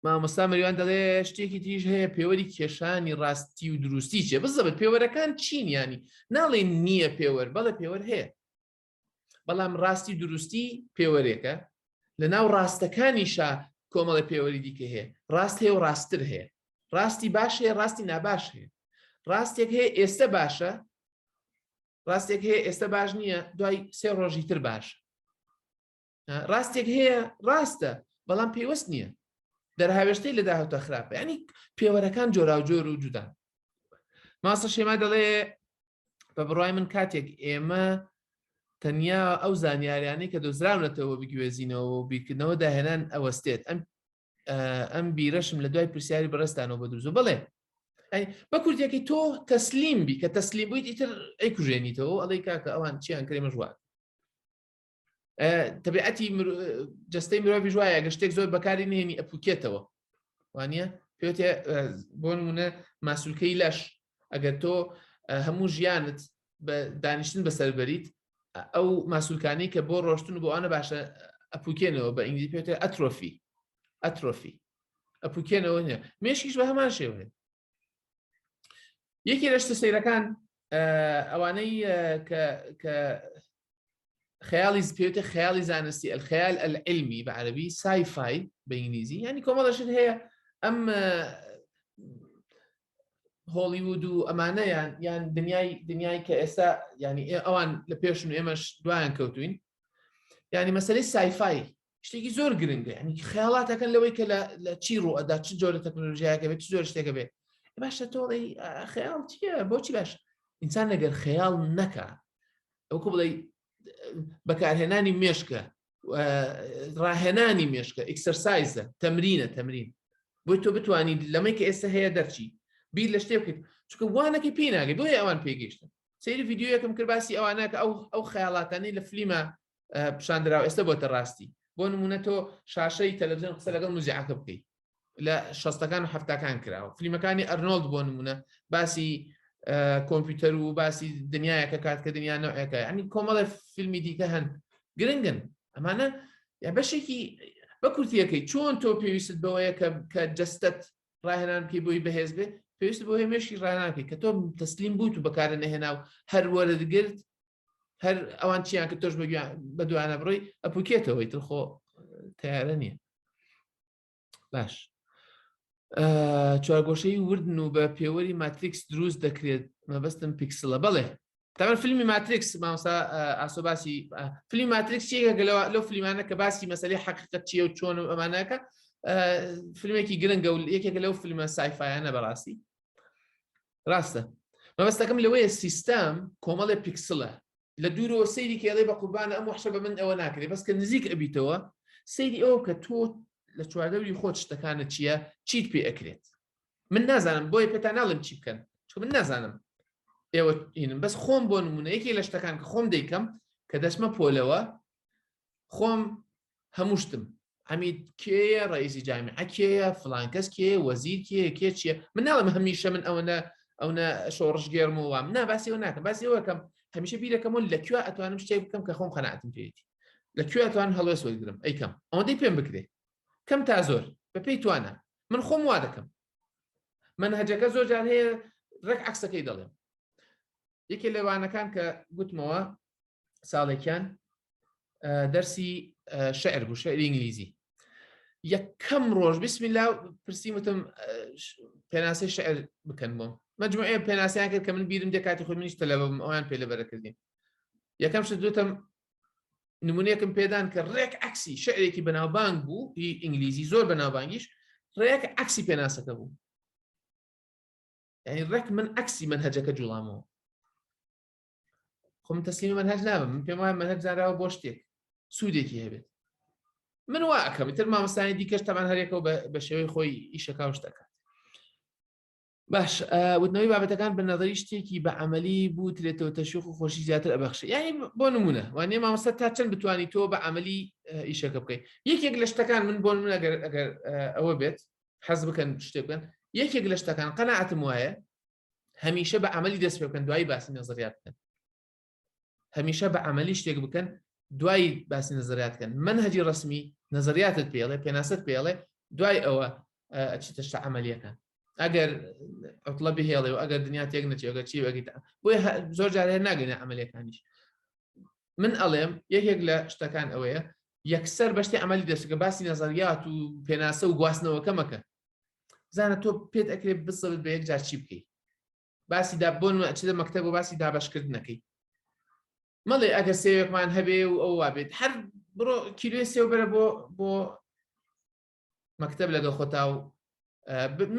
مامۆستا مەریوان دەڵێ شتێکی تریش هەیە پێوەری کێشانی ڕاستی و دروستی چێ بزەبت پێوەرەکان چین ینی ناڵێ نییە پێوەر بەڵە پێوەر هەیە بەڵام ڕاستی دروستی پێوەرێکە لە ناو ڕاستەکانیشا کۆمەڵە پێوەری دیکە هەیە ڕاست هەیە و ڕاستتر هەیە ڕاستی باش هەیە ڕاستی ناباش هەیە ڕاستێک هەیە ئێستا باشە ڕاستێک هەیە ئێستا باش نییە دوای سێ ڕۆژی تر باش ڕاستێک هەیە ڕاستە بەڵام پێوەست نییە دەرهاوێشتەی لە داهوتە خراپە ینی پێوەرەکان جۆراوجۆر و جودان ماسە شێما دەڵێ بە بڕای من کاتێک ئێمە تەنیا ئەو زانیاریانەی کە دۆزراونەتەوە بگوێزینەوە و بیرکردنەوە داهێنان ئەوەستێت ئەم ئەم بیرەشم لە دوای پرسیاری بەڕستانەوە بە دوزو بڵێ بە کوردیەکەی تۆ تەسلیم بی کە تەسلیم بوویت ئیتر ئەی کوژێنیتەوە ئەڵی کاکە ئەوان چیان کرێمە ژوات تەبیعەتی جستەی مرۆڤی ژواە گە شتێک زۆر بەکاری نێنی ئەپوکێتەوە وانە پێێ بۆ نمونە ماسولکەی لەش ئەگەر تۆ هەموو ژیانت بە دانیشتن بەسەر بەریت ئەو ماسولکانی کە بۆ ڕۆشتن بۆ ئەە باشە ئەپوکێنەوە بە ئینگلی پێێ ئەترۆفی ئەترۆفی ئەپوکێنەوە نیە مێشکیش بە هەمان شێوێت یەکی لەشتە سەیرەکان ئەوانەی کە خەیاڵی پێوتە خەیاڵی زانستی ئەلخەیال ئەلعلمی بە عەربی سایفای بە ئینگلیزی ینی کۆمەڵەشت هەیە ئەم هۆڵیوود و ئەمانەیان یان دنیای دنیای کە ئێستا ینی ئەوان لە پێشن ئێمەش دوایان کەوتوین ینی مەسەری سایفای شتێکی زۆر گرنگە ینی خیاڵاتەکەن لەوەی کە لە چی ڕوو ئەدا چ جۆرە تەکنۆلژیایەکە بێت زۆر شتێکە بێت باشە تۆڵی خەیاڵ چیە بۆچی باش ئینسان نەگەر خەیاڵ نەکە ئەوکو بڵێ بەکارهێنانی مێشکە ڕاهێنانی مێشکە ئیکسەرسایزە تەمرینە تەمرین بۆی تۆ بتانی لەمەی کە ئێستا هەیە دەرچی بیر لە شتێ بکەیت چکە وانەکە پێ ناگەی بۆی ئەوان پێگەیشتن سری یددیوەکەم کرد باسی ئەوانە کە ئەو ئەو خیاڵاتانی لە فلیمە پیشان دراو ئێستا بۆتە ڕاستی بۆ نمونە تۆ شاشەی تەلەڤزیۆن قسە لەگەڵ مزیعەکە بکەیت لە شەستەکان و هەفتەکان کراوە فلیمەکانی ئەرنۆلد بۆ نمونە باسی کۆمپیوتەر و باسی دنیایەکە کات کە دنیا نەوەکە ئەنی کۆمەڵە فیلمی دیکە هەن گرنگن ئەمانە یا بەشێکی بە کورتیەکەی چۆن تۆ پێویست بەوەیە کە کە جستت ڕاهێنان پێی بۆی بەهێز بێت پێویست بۆ هێمێشی ڕاناکەی کە تۆ تەسلیم بووت و بەکارە نەهێنا و هەروەرت گرت هەر ئەوان چیان کە تۆش بە دوانە بڕی ئەپوکێتەوەی تر خۆ تیارە نییە باش چوارگۆشەی وردن و بە پێوەری ماتریکس دروست دەکرێت مەبەستم پیکسلە بەڵێ تاەن فیلمی ماتریکس مامسا ئاسۆ باسی فیلمی ماتریکس یەکە لەوە لەو فیلمانە کە باسی مەسلی حقیقەت چیە و چۆن و ئەمانەکە فیلمێکی گرنگە و یەکێکە لەو فیلمە سایفایانە بەڕاستی ڕاستە مەبەستەکەم لەوەیە سیستەم کۆمەڵێ پیکسلە لە دوورەوە سەیری کێڵێ بە قوربانە ئەم وحشە بە من ئەوە ناکرێت بەس کە نزیک ئەبیتەوە سەیری ئەوە کە تۆ لە چواردەوری خۆت شتەکانە چییە چیت پێ ئەکرێت من نازانم بۆیە پێتا ناڵم چی بکەن چ من نازانم ئێوە هینم بەس خۆم بۆ نمونە یەکی لە شتەکان کە خۆم دەیکەم کە دەچمە پۆلەوە خۆم هەموو شتم عمید کێیە ڕئیسی جامیعە کێیە فلانکەس کێ وەزیر کێ کێ چیە من ناڵم هەمیشە من ئەوەنە ئەوە شۆڕش گێرم و وام نا باسیەوە ناکەم باسیەوەکەم هەمیشە بیرەکەم و لە کوێ ئەتوانم شتێک بکەم کە خۆم قەناتم پێێتی لە کوێ ئەتوان هەڵوێست وەرگرم ئەیکەم ئەوەندەی پێم بکرێ کەم تا زۆر بە پێی توانە من خۆم وا دەکەم من هەجەکە زۆر جار هەیە ڕێک عکسەکەی دەڵێم یەکێ لەوانەکان کە گوتمەوە ساڵێکیان دەرسی شعر بوو شعری ئینگلیزی یەکەم ڕۆژ بسم لا پرسییم وتم پێناسی شعر بکەن بۆم مجموعەیە پێناسیان کرد کە من بیرم دە کاتی خۆ منیش تەلەبم ئەویان پێ لەبەرەکردین یەکەم شت دوتم نمونونەکەم پێدان کە ڕێک عکسی شعرێکی بەناوبانگ بوو هی ئینگلیزی زۆر بەناوبانگیش ڕێک عکسی پێناسەکە بوو یعنی ڕێک من عکسی من هەجەکە جوڵامەوە خۆم تەسلیم منهج نابم من پێم وایە منهج زانراوە بۆ شتێک سوودێکی هەبێت من وا ئەکەم تر مامۆستانی دیکەش تەمان هەرێکەوە بە شێوەی خۆی ئیشەکە شتەکە باش وتنەوەی بابەتەکان بە نظری شتێکی بە عملی بوو ترێتەوە تەشوق و خۆشی زیاتر ئەبخش یعنی بۆ نمونە وانێ مامۆستا تا چەند بتانی تۆ بە عملی ئیشەکە بکەیت یەکێک لە شتەکان من بۆ من ئەگەر ئەگەر ئەوە بێت حەز بکەن شتێکن یەکێک لە شتەکان قەنەعاتم وایە هەمیشە بە عملی دەست پێ بکەن دوایی باسی نەزریات بکەن هەمیشە بە عملی شتێک بکەن دوایی باسی نەزریات بکەن من هەجی ڕسمی نەزریاتت پێڵێ پێناست پێڵێ دوای ئەوە ئەچیتە شتە عملیەکان ئەگەر ئەوڵە بهێڵێ و ئەگەر دنیا تێک نەچێگە چی وەگیت بۆی زۆر جارێ ناگەنە عملەکانیش من ئەڵێم یەکێک لە شتەکان ئەوەیە یەکسەر بەشتی عملی دەشتەکە باسی نەزەریات و پێناسە و گواستنەوەکەمەکە بزانە تۆ پێت ئەکرێت بسەبت بە یەکجار چی بکەیت باسی دا بۆن چ لە مەکتب و باسی دابشکردنەکەی مەڵێ ئەگەر سێوێکمان هەبێ و ئەو وابێت هەر بڕۆ کیلوێ سێو بەرە بۆ بۆ مەکتب لەگەڵ خۆتا و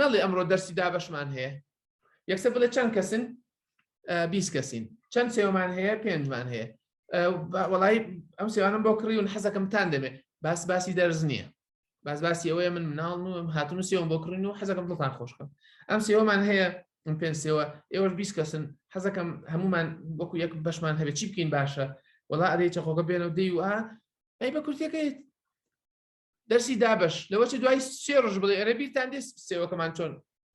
نەڵێ ئەمڕۆ دەرسی دابشمان هەیە یەکسە بڵێ چەند کەسن بی کەسین چەند سێومان هەیە پێنجمان هەیە وڵی ئەم سێوانم بۆ کڕی و حەزەکەمتان دەبێت باس باسی دەرز نییە باز باسی ئەوەیە من مناڵ نوم هاتون و سێوم بۆ کڕین و حەزەکەم دڵتان خۆشکەم ئەم سێوەمان هەیە من پێنج سێوە ئێوەش بیست کەسن حەزەکەم هەمومان وەکو یەک بەشمان هەبێت چی بکەین باشە وڵا ئەدەی چەخۆگە بێنەوە دەی و ئەی بە کورتەکەی دەرسی دابش لەوە چ دوای سێ ڕژ بڵێ ئەرە بیرتان دێ سێوەکەمان چۆن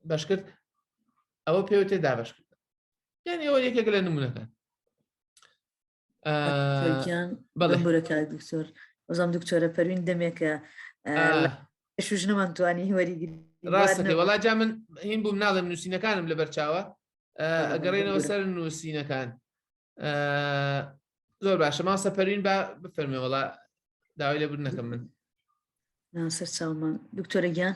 بەش کرد ئەوە پێوە تێ دابش کرد یان ئێوە یەکێک لە نمونونەکان بەڵێ کاک دکتۆر وەزام دکتۆرە پەروین دەمێکە ئەش ژنەمان توانی وەریگیری ڕاستەکە وەڵا جا من هین بووم ناڵێم نووسینەکانم لە بەرچاوە ئەگەڕێنەوە سەر نووسینەکان زۆر باشە ما سەپەرین با بفەرمێ وەڵا داوای لێبوون نەکەم من سەر چاومان دکتۆرە گیان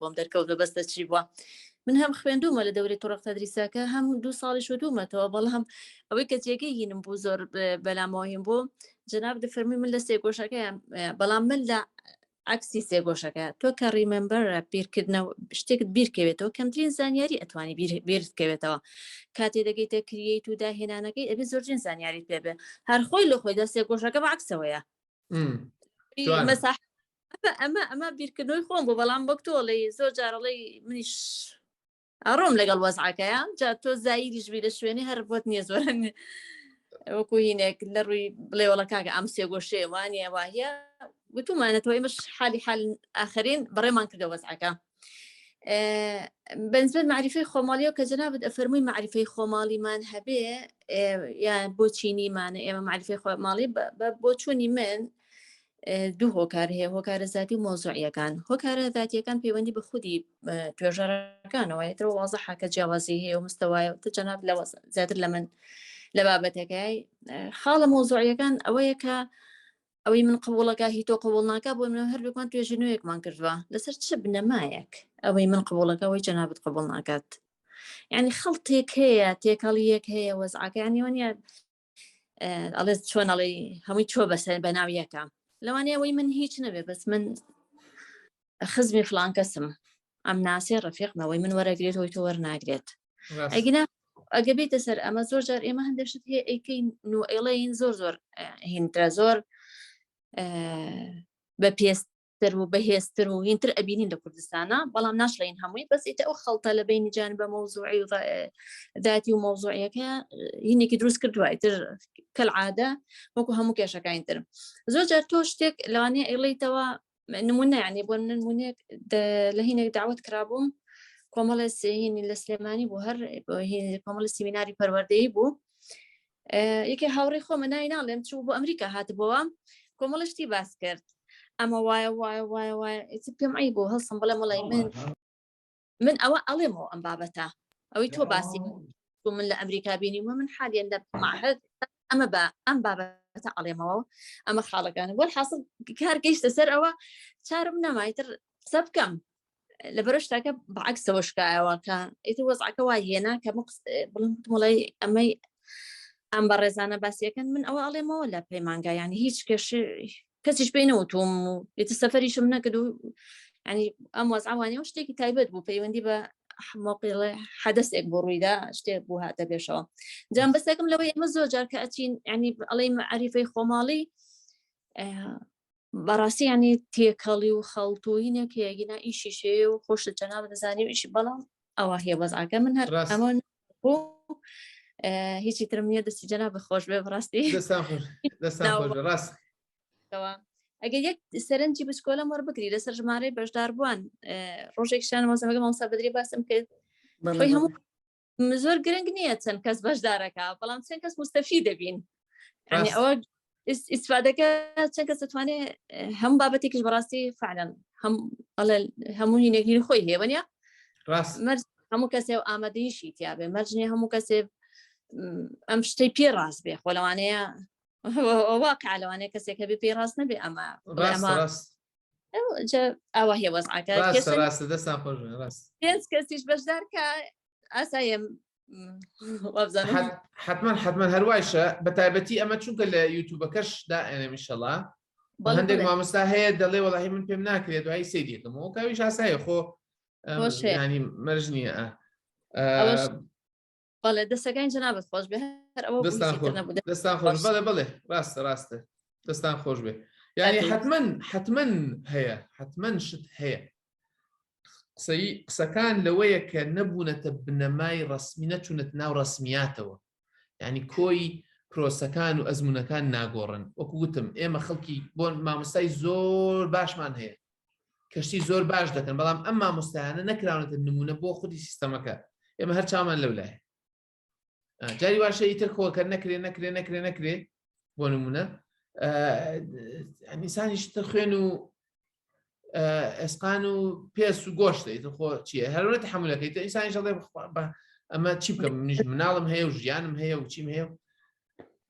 بۆم دەرکەوت بە بەستە چی بووە من هەم خوێندومە لە دەوری تڕق تەدریساکە هەم دوو ساڵی شوتومەتەوە بەڵام ئەوەی کە جێگەی هینم بوو زۆر بەلامەوەهیم بوو جناب دەفەرمی من لە سێگۆشەکەیان بەڵام من لە عکسی سێگۆشەکە تۆ کە ڕیمەمبەرە بیرکردنەوە شتێکت بیرکەوێتەوە کەمترین زانیاری ئەتوانی بیرکەوێتەوە کاتێ دەگەیتە کریت و داهێنانەکەی ئەبێ زۆرجین زانیاری پێبێ هەر خۆی لە خۆی دە سێگۆشەکە بە عکسەوەیە مەساح ئەمە ئەمە بیرکردنەوەی خۆم بۆ بەڵام وەک تۆڵی زۆر جارڵی منیش ئەڕۆم لەگەڵ وەزعەکەیە جا تۆ زایریش بی لە شوێنی هەر بۆت نییە زۆرن وەکو هینێک لە ڕووی بڵێوەڵە کاکە ئەم سێگۆشێ وانە واهە گوتومانە تۆی مش حالی حال ئاخرین بەڕێمان کردە وەزعەکە بەنسبەت معریفی خۆماڵیەوە کە جەنابەت ئەفەرمووی معریفی خۆماڵیمان هەبێ یان بۆ چینیمانە ئێمە معریفی خۆماڵی بۆ چوونی من دوو هۆکار هەیە هۆکارە زیاتی و مۆزوعیەکان هۆکارە زیاتیەکان پەیوەندی بە خودی توێژەرەکانەوە یەترەوە وازە حکە جیاوازی هەیە و مستەوایە تە جەناب لە زیاتر لە من لە بابەتەکەی خاڵە مۆزوعیەکان ئەوەیە کە ئەوەی من قوڵەکە هی تۆ قوڵ ناکە بۆ منە هەردووکمان توێژی نوێکمان کردووە لەسەر چ بنەمایەک ئەوەی من قوڵەکە ئەوەی جەنابەت قوڵ ناکات یعنی خەڵتێک هەیە تێکەڵیەک هەیە وەزعەکەیانیوانە ئەڵێ چۆن ئەڵێ هەمووی چۆ بەسە بە ناو یەکە لەوانەیە ئەوەی من هیچ نەبێ بەس من خزمی فلان کەسم ئەم ناسێ ڕفیقمەوەی من وەرەگرێت هۆی تۆ وەرناگرێت ئەگینا ئەگە بێتە سەر ئەمە زۆر جار ئێمە هەندێشت هەیە ئەیکەین نو ئێڵین زۆر زۆر هینترە زۆر بە پێست تر و بەهێزتر و هینتر ئەبینین لە کوردستانە بەڵام ناشڵین هەمووی بەس ئیتە ئەو خەڵتە لە بینی جان بە مەوزوعی و داتی و مەوزوعەکە هینێکی دروست کرد دوایتر کەل عادە وەکو هەموو کێشەکانی ترم زۆر جار تۆ شتێک لەوانەیە ئەیڵیتەوە نمونە یعنی بۆ نمونێک لە هینێک داوت کرابووم کۆمەڵە سهینی لە سلێمانی بۆ هەر کۆمەڵە سیمیناری پەروەردەی بوو یەکێ هاوڕێ خۆمە نای ناڵێم چوو بۆ ئەمریکا هاتبەوە کۆمەڵشتی باس کرد ئەمە وایە وایە وایە وایە پێم ئەی بۆ هەڵسم بڵێ مەڵی من من ئەوە ئەڵێمەوە ئەم بابەتە ئەوەی تۆ باسی بۆ من لە ئەمریکا بینی وە من حالیان لە معهد ئەمە بە ئەم بابەتە ئەڵێمەوە ئەمە خاڵەکانە وەل حاصل کار گەیشتە سەر ئەوە چارم نەمایتر قسە بکەم لە بەرشتاکە بەعکسەوە شکایەوە کە ئیتر وەزعەکە وا هێنا کە بڵم مڵی ئەمەی ئەم بە ڕێزانە باسیەکەن من ئەوە ئەڵێمەوە لە پەیمانگایانی هیچ کەش کەسیش پێی نەوتوم و ئیتر سەفەریشم نەکرد و ینی ئەم وەزعوانەیە و شتێکی تایبەت بوو پەیوەندی بە مۆقیڵێ حەدەسێک بۆ ڕوویدا شتێک بوو هاتە پێشەوە جام بەسەکەم لەوەی ئێمە زۆر جار کە ئەچین ینی ئەڵی عریفەی خۆماڵی بەڕاستی ینی تێکەڵی و خەڵتوینێک هەیەگینا ئیشی شێ و خۆشت جەناب دەزانانی و ئیشی بەڵام ئەوە هەیە بەزعکە من هەر ئەمە هیچی ترم نیە دەستی جەنا بەخۆش بێ بڕاستی ڕاست ئەگەر یەک سەرنجی بچکۆلە مەڕ بکری لەسەر ژمارەی بەشداربووان ڕۆژێک شان مۆزەمەگە مامسا بدری باسم کرد هەموو زۆر گرنگ نییە چەند کەس بەشدارەکە بەڵام چەند کەس مستەفی دەبین ئەوە ئیسفادەکە چەند کەس دەتوانێت هەم بابەتێکیش بەڕاستی فعلەن هەم ئەڵێ هەموو هینەگیری خۆی هێوەنە ڕاست مەرج هەموو کەسێ و ئامادەیشی تیاابێ مەرجنی هەموو کەسێ ئەم شتەی پێ ڕاست بێ خۆ لەوانەیە واقع لەوانێ کەسێک هەبێ پێی ڕاست نەبێ ئەمە ئەوە هێ وەزعەکە ڕاست دەستان خۆش ڕاست پێنج کەسیش بەشدار کە ئاسایم حتمما حتمما هەروایشە بە تایبەتی ئەمە چونکە لە یوتوبەکەش دائێنەمیشەڵا هەندێک مامۆستا هەیە دەڵێ وەڵی من پێم ناکرێت دوای سیدێکم و کاویش ئاسایە خۆ ینی مەرج نییە بەڵێ دەستەکانی جنابەت خۆش بێ دەستان خۆش بەڵێ بڵێ ڕاستە ڕاستە دەستان خۆش بێ یعنی حتمما حتمما هەیە حتمما شت هەیە قسەی قسەکان لەوەیە کە نەبوونەتە بنەمای ڕسمی نەچوونەت ناو ڕسمیاتەوە ینی کۆی پرۆسەکان و ئەزمونونەکان ناگۆڕن وەکو وتم ئێمە خەڵکی بۆ مامۆستای زۆر باشمان هەیە کەشتی زۆر باش دەکەن بەڵام ئەم مامۆستایانە نەکراونەتە نمونە بۆ خودی سیستەمەکە ئێمە هەر چامان لەو لایە جاری واشە ئیتر خۆکە نەکرێ نەکرێ نەکرێ نەکرێ بۆ نمونە ئەمیسانیش تر خوێن و ئەسقان و پێس و گۆشتی خۆ چیە هەرونەت حملەکەیت ئیسانی ژڵێ بە ئەمە چی بکەم منیش مناڵم هەیە و ژیانم هەیە و چیم هەیە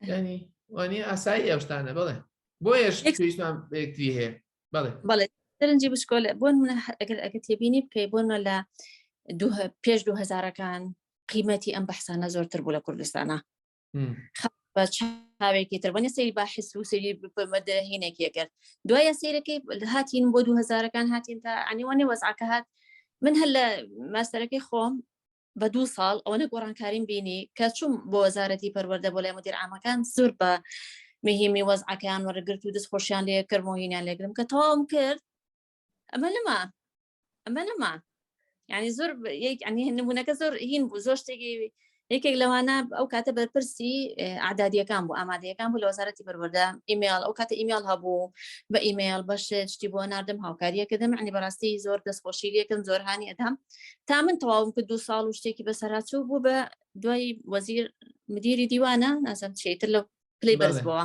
ینی وانی ئاسایی ئەوشتانە بڵێ بۆیش پێویستمان بەکتی هەیە بڵێ بڵێ سەرنجی بشکۆل بۆن منە ئەگەر ئەگە تێبینی بکەی بۆنە لە پێش دوهزارەکان قیمەتی ئەم بەحسانە زۆرتر بوو لە کوردستانە بە چاوێکی تر بەە سری باحس و سری بەمەدەهینێکی کرد دوایە سیرەکەی هاتین بۆ دو هزارەکان هاتین تا ئەنیوانێ وەزعکە هات من هەر لە ماستەرەکەی خۆم بە دوو ساڵ ئەوەنە گۆڕانکاریم بینی کە چوم بۆ وەزارەتی پەروەەردە بۆ لای مدیر ئامەکان زۆر بە مهمی وەزعکەیان وەرەگرت و دەست خۆشیان لێ کردمەوەهینیان لێگرم کە تەواوم کرد ئەمە لەما ئەمە نەما یعنی زۆر نمونونەکە زۆر هین بوو زۆر شتێکی یەکێک لەوانە ئەو کاتە بەرپرسی ئادادیەکان بوو ئامادەیەکان بوو لە وەزارەتی بەروەدا ئیمێل ئەو کاتە ئیمێل هەبوو بە ئیمێل بەش شتی بۆ نردم هاوکاریەکەدەم عنی بەڕاستی زۆر دەستخۆشی لەکەم زۆر هاانی ئەدام تا من تەواوم کرد دو ساڵ و شتێکی بەسەرچوو بوو بە دوای وەزیر مدیری دیوانە نازم شیتر لە پلی بەرزبەوە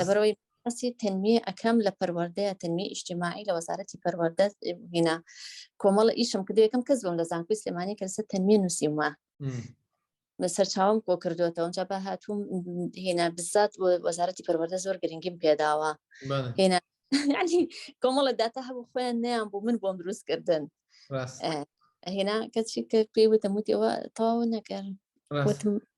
لەبەرەوەی باسی تەنویێ ئەەکەم لە پەروەردەیە تەنوی ئیشتیماعی لە وەزارەتی پەروەردە هینا کۆمەڵە ئیشم کردو یەکەم کەس بم لە زانکوی سلێمانی کە لەسەر تەنوێ نووسیمە بە سەرچاوم کۆ کردوێتەوە ئەوجا بە هاتووم هێنا بزات وەزارەتی پەروەردە زۆر گرنگیم پێداوە هێنا کۆمەڵە داتا هەبوو خۆیان نیان بوو من بۆم دروست کردن هێنا کەچی کە پێی وتم وتیەوە تەواو نەکەن وتم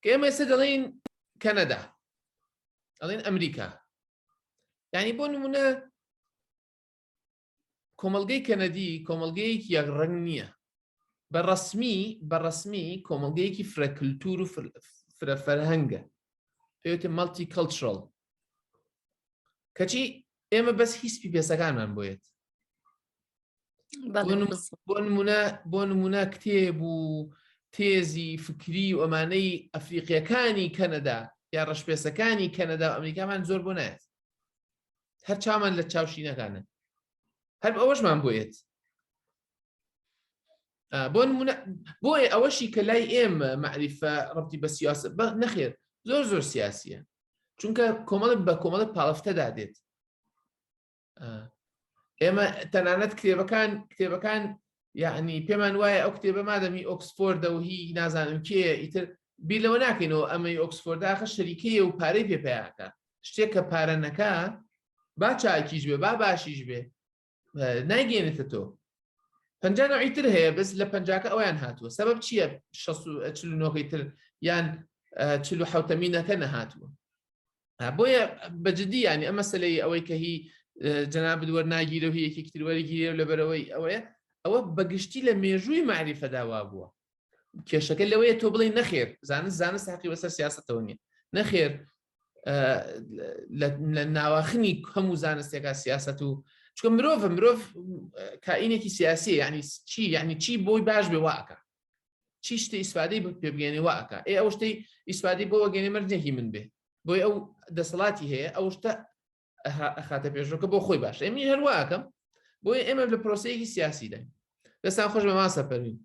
کە ئێمە ئێستا دەڵێن کەنەدا ئەڵێن ئەمریکا ینی بۆ نمونە کۆمەلگەی کەنەدی کۆمەلگەیەکی یەک ڕنگ نییە بە ڕسمی بە ڕسمی کۆمەلگەیەکی فرەکلتور و فرە فەرهەنگە پێوتە مەڵتی کەلترل کەچی ئێمە بەس هیچ پیپێسەکانمان بۆیت بۆ نمونە بۆ نمونە کتێب و تێزی فکری و ئەمانەی ئەفریقیەکانی کەنەدا یا ڕەشپێسەکانی کەنەدا و ئەمریکامان زۆر بۆ نایێت هەر چامان لە چاوشینەکانە هەر ئەوەشمان بۆیت بۆ بۆیە ئەوەشی کە لای ئێمە معریفە ڕبتی بە سیاست بە نەخێر زۆر زۆر سیاسیە چونکە کۆمەڵە بە کۆمەڵە پاڵفتەدا دێت ئێمە تەنانەت کتێبەکان کتێبەکان یعنی پێمان وایە ئەو کتێبە مادەمی ئۆکسفۆردە و هی نازانم کێ ئیتر بیر لەوە ناکەینەوە ئەمەی ئۆکسفۆرداخە شەریکەیە و پارەی پێ پیاکە شتێک کە پارەنەکە با چاکیش بێ با باشیش بێ نایگەێنێتە تۆ پنجانە ئیتر هەیە بەس لە پنجاکە ئەویان هاتووە سبب چییە نۆکەی تر یان چلو حوتەمینەکە نەهاتووە بۆیە بە جددی ینی ئەمە سەلەی ئەوەی کە هی جەنابد وەرناگیرە و یەکێکی تروەرەگیرێ و لەبەرەوەی ئەوەیە ئەوە بەگشتی لە مێژووی معریفەداوا بووە کێشەکە لەوەیە تۆ بڵێ نەخێر زانست زانست تاقی بەسەر سیاستەوە نیە نەخێر لە ناواخنی هەموو زانستێکا سیاست و چکە مرۆڤ مرۆڤ کائینێکی سیاسی ینی چی یعنی چی بۆی باش بێ واکە چی شتی ئیسفادەی پێ بگەێنێ وا ئەکا ئێ ئەو شتی ئیسفادی بۆ وەگەێنێ مەرجێکی من بێ بۆی ئەو دەسەڵاتی هەیە ئەو شتە خاتە پێشۆکە بۆ خۆی باش ئەمی هەرواکەم بۆی ئێمە لە پرۆسەیەکی سیاسی دای دەستان خۆش بە ماسە پەرین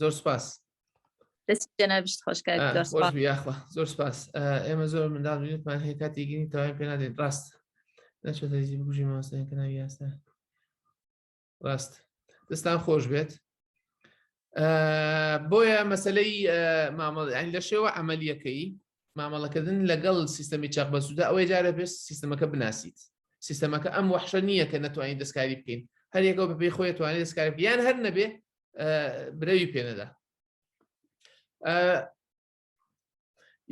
زۆر سپاس زۆر سپاس ئێمە زۆر منداڵ بینێتمان هەیە کاتی گیری تاوای پێ نادێت ڕاست نەچێت بژی ماسەکە ناوی یاستا ڕاست دەستان خۆش بێت بۆیە مەسلەی مامەڵی لە شێوە ئەمەلیەکەی مامەڵەکردن لەگەڵ سیستەمی چاق بەسودا ئەوەی جارە پێست سیستەمەکە بناسیت سیستەمەکە ئەم وحشە نییە کە نتوانین دەستکاری بکەین هەر یەکەوە بە پێی خۆی توانێت دەستکاری یان هەر نەبێ برەوی پێنەدا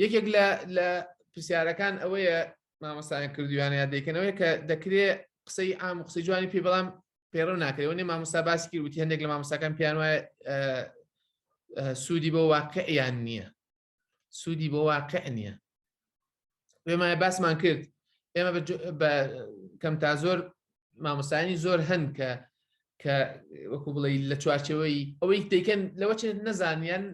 یەکێک لە لە پرسیارەکان ئەوەیە مامەسایان کردویانە یا دەیکەنەوەی کە دەکرێ قسەی ئام قسەی جوانی پێ بەڵام پێڕەو ناکرێەوە نێ مامۆستا باسی کرد وتی هەندێک لە مامۆستاکان پیان وایە سوودی بۆ واقعیان نییە سوودی بۆ واقع نییە پێمایە باسمان کرد ئێمە بە کەم تا زۆر مامۆستانی زۆر هەن کە کە وەکو بڵێ لە چوارچەوەی ئەوەی دەیکەن لەوە چێت نەزانیان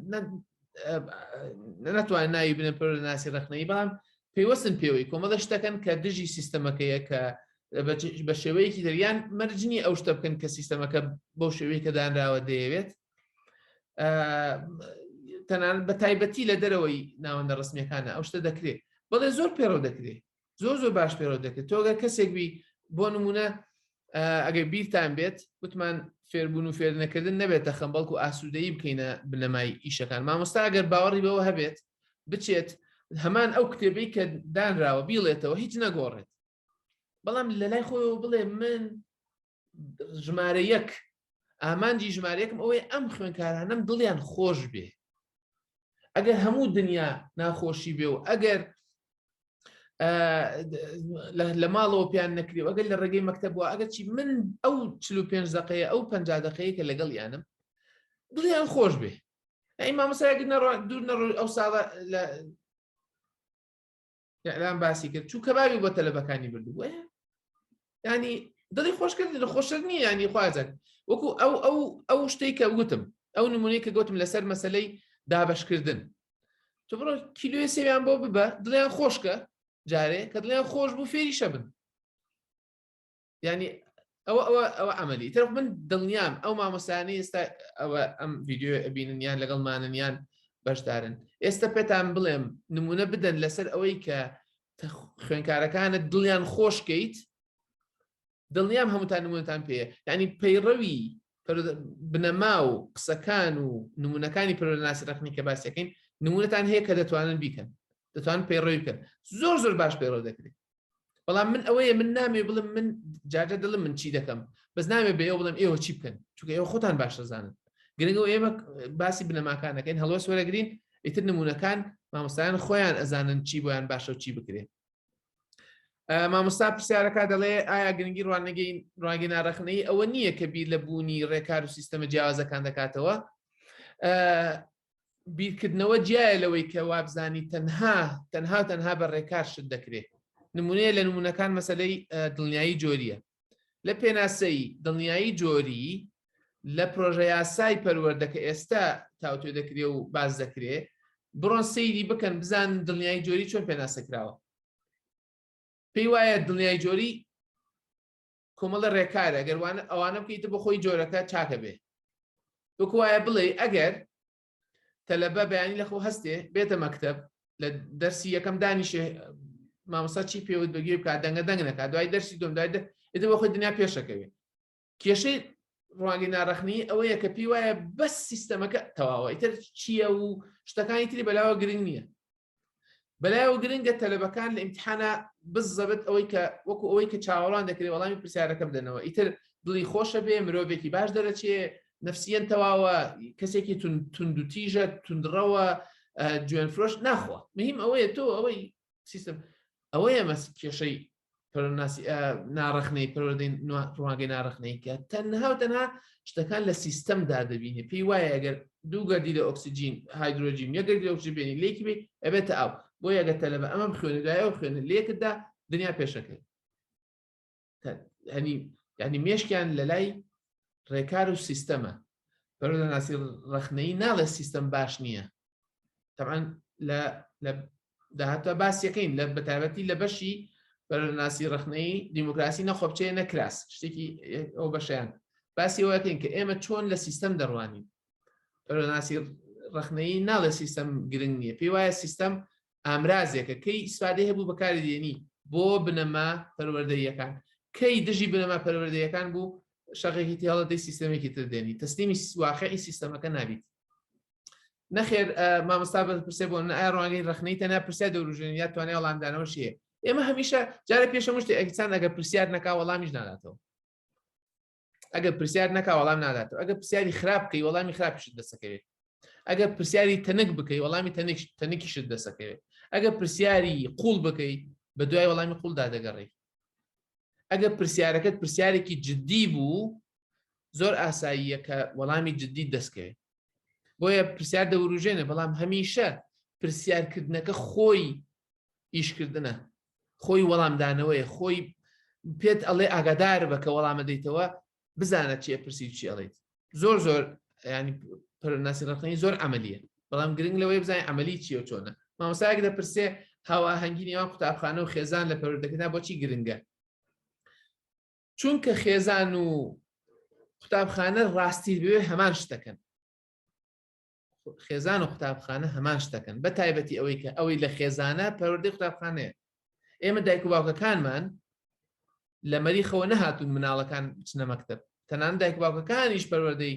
ناتوان ناوی بنە پەر لە ناسی ڕخنەی بەڵام پێوەستن پێوەی کۆمەڵە شتەکەن کە دژی سیستەمەکەیە کە بە شێوەیەکی دەریان مەرجنی ئەو شتە بکەن کە سیستەمەکە بەو شێوەیە کە دانراوە دەیەوێت تەنان بە تایبەتی لە دەرەوەی ناوەندە ڕستمیەکانە ئەو شتە دەکرێت بەڵێ زۆر پێڕەو دەکرێت زۆر زۆر باش پێرەوە دەکرێت تۆگە کەسێک بی بۆ نمونە ئەگەر بیرتان بێت وتمان فێربوون و فێرنەکردن نەبێتە خەم بەڵکو ئاسوودەی بکەینە بنەمای ئیشەکان مامۆستا گەر باوەڕی بەوە هەبێت بچێت هەمان ئەو کتێبەی کە دانراوە بیڵێتەوە هیچ نەگۆڕێت بەڵام لە لای خۆیەوە بڵێ من ژمارە یەک ئامانجی ژمارەیەکم ئەوەی ئەم خوێنکارانم دڵیان خۆش بێ ئەگەر هەموو دنیا ناخۆشی بێ و ئەگەر لە ماڵەوە پێیان نەکری و ئەگەر لە ڕێگەی مەکتەبووە ئەگەر چی من ئەو چل و پێنج دقەیە ئەو پنج دقەیە کە لەگەڵ یانم دڵیان خۆش بێ ئەی مامەسایەکە دوور نەڕۆ ئەو ساڵە ئیعلام باسی کرد چوو کەبابی بۆ تەلەبەکانی بردبوو ینی دڵی خۆشکرد لە خۆشتر نییە ینی خوازن وەکو ئەو ئەو ئەو شتێک کە وتم ئەو نمونەی کە گوتم لەسەر مەسلەی دابشکردن تو بڕۆ کیلوێ سێویان بۆ ببە دڵیان خۆشکە جارێ کە دڵیان خۆش بوو فێری شەبن ینی ئەوە ئەوە ئەوە ئەمەلی تر من دڵنیام ئەو مامۆسانی ئێستا ئەوە ئەم ڤیددیو ئەبینن یان لەگەڵ مانن یان بەشدارن ئێستا پێتان بڵێم نمونە بدەن لەسەر ئەوەی کە خوێنکارەکانت دڵیان خۆشکەیت دڵنیام هەمووتان نمونتان پێ ینی پەیڕەوی بنەما و قسەکان و نمونونەکانی پرۆناسی ڕخنی کە باسەکەین نمونونەتان هەیە کە دەتوانن بیکەن دەتوان پەیڕەوی بکەن زۆر زۆر باش پەیڕەو دەکرێت بەڵام من ئەوەیە من نامێ بڵم من جاجە دڵم من چی دەکەم بەس نامێ بە ئێوە بڵم ئێوە چی بکەن چونکە ئێوە خۆتان باش دەزانن گرنگەوە ئێمە باسی بنەماکان دەکەین هەڵوەس وەرەگرین ئیتر نمونونەکان مامۆستایان خۆیان ئەزانن چی بۆیان باشە و چی بکرێت مامۆستا پرسیارەکە دەڵێ ئایا گرنگی ڕوانگەی ڕوانگە ناڕەخنەی ئەوە نییە کە بیر لە بوونی ڕێکار و سیستەمە جیاوازەکان دەکاتەوە بیرکردنەوە جیایە لەوەی کە وابزانی تەنها تەنها تەنها بە ڕێکار شت دەکرێت نمونەیە لە نمونونەکان مەسلەی دڵنیایی جۆریە لە پێناسەی دڵنیایی جۆری لە پرۆژە یاسای پەروەەردە کە ئێستا تاوتێ دەکرێ و باز دەکرێ بڕۆن سەیری بکەن بزان دڵنیایی جۆری چۆن پێناسەکراوە پێی وایە دڵنیای جۆری کۆمەڵە ڕێکارە گەر ئەوانە بکەیتە بۆ خۆی جۆرەکە چاکە بێ وەکوایە بڵێ ئەگەر تەلەبە بەیانی لەخۆ هەستێ بێتە مەکتب لە دەرسی یەکەم دانیشێ مامۆسا چی پێوت بەگوێ بکات دەنگە دەنگ نەکە دوای دەرسی دوم دوای ئێدە بە خۆی دنیا پێشەکەوێت کێشەی ڕوانگەی ناڕەخنی ئەوەیە کە پێی وایە بەس سیستەمەکە تەواوە ئیتر چییە و شتەکانی تری بەلاوە گرنگ نییە برای و گرنگە تەلەبەکان لە ئیمتحانا بزەبت ئەوەی کە وەکو ئەوەی کە چاوەڕوان دەکرێت وەڵامی پرسیارەکە بدەنەوە ئیتر دڵی خۆشە بێ مرۆڤێکی باش دەرەچێ نفسیەن تەواوە کەسێکی توندوتیژە تونندڕەوە جوێن فرۆش ناخوا مهم ئەوەیە تۆ ئەوەی سیستم ئەوەیە مەس کێشەی ناڕخنەی پەروەدەی ڕوانگەی ناڕخنەی کە تەنها و تەنها شتەکان لە سیستەمدا دەبینێ پێی وایە ئەگەر دوو گەردی لە ئۆکسسیجین هایدرۆجین یەگەردی ئۆکسجیبێنی لێکی بێ ئەبێتە ئاو بۆ یەگە تەلە بە ئەمەم خوێنە لایەوە خوێنە لێکتدا دنیا پێشەکەی هەنی یعنی مێشکیان لە لای ڕێکار و سیستەمە بەرەناسی ڕخنەی ناڵێ سیستەم باش نییە تەعاان لە داهاتوە باسیەکەین لە بەتابەتی لە بەشی بەرناسی ڕخنەی دیموکراسی نەخۆبچێ نەکراس شتێکی ئەو بەشیان باسی وەکەین کە ئێمە چۆن لە سیستەم دەڕوانین بەرناسی ڕخنەی ناڵێ سیستەم گرنگ نییە پێی وایە سیستەم ئامرازێکە کەی ئیسفادەی هەبوو بەکاری دێنی بۆ بنەما پەروەردەیەکان کەی دژی بنەما پەروەردەیەکان بوو شەغێکی تێڵەتی سیستەمێکی تر دێنی تەسلیمی واقعی سیستەمەکە نابیت نەخێر مامۆستا بە پرسێ بۆ ئایا ڕوانگەی ڕخنەی تەنە پرسیار دەوروژێن یا توانای وەڵامدانەوە شیە ئێمە هەمیشە جارە پێشە مشتی ئەکسان ئەگە پرسیار نەکا وەڵامیش ناداتەوە ئەگەر پرسیار نەکا وەڵام ناداتەوە ئەگە پرسیاری خراپ بکەی وەڵامی خراپیشت دەسەکەوێت ئەگەر پرسیاری تەنک بکەی وەڵامی تەنک تەنکیشت دەسەکەوێت ئەگەر پرسیاری قوڵ بکەی بە دوای وەڵامی قوڵدا دەگەڕی ئەگەر پرسیارەکەت پرسیارێکی جددی بوو زۆر ئاساییە کە وەڵامی جددی دەستکەوێت بۆیە پرسیار دەوروژێنە بەڵام هەمیشە پرسیارکردنەکە خۆی ئیشکردنە خۆی وەڵامدانەوەی خۆی پێت ئەڵێ ئاگادار بە کە وەڵامە دەیتەوە بزانە چێ پرسی چی ئەڵیت زۆر زۆر ینی پرناسی ڕقنی زۆر ئەمەلیە بەڵام گرنگ لەوەی بزانین ئەمەلی چیە چۆنە مامۆساک دەپرسێ هاواهەنگی نێوان قوتابخانە و خێزان لە پەرودەکەدا بۆچی گرنگە چونکە خێزان و قوتابخانە ڕاستی بێ هەمان شتەکەن خێزان و قوتابخانە هەمان شتەکەن بە تایبەتی ئەوەی کە ئەوەی لە خێزانە پەروەردەی قوتابخانەیە ئێمە دایک و باوکەکانمان لە مەریخەوە نەهاتون مناڵەکان بچنە مەکتب تەنان دایک باوکەکانیش پەروەردەی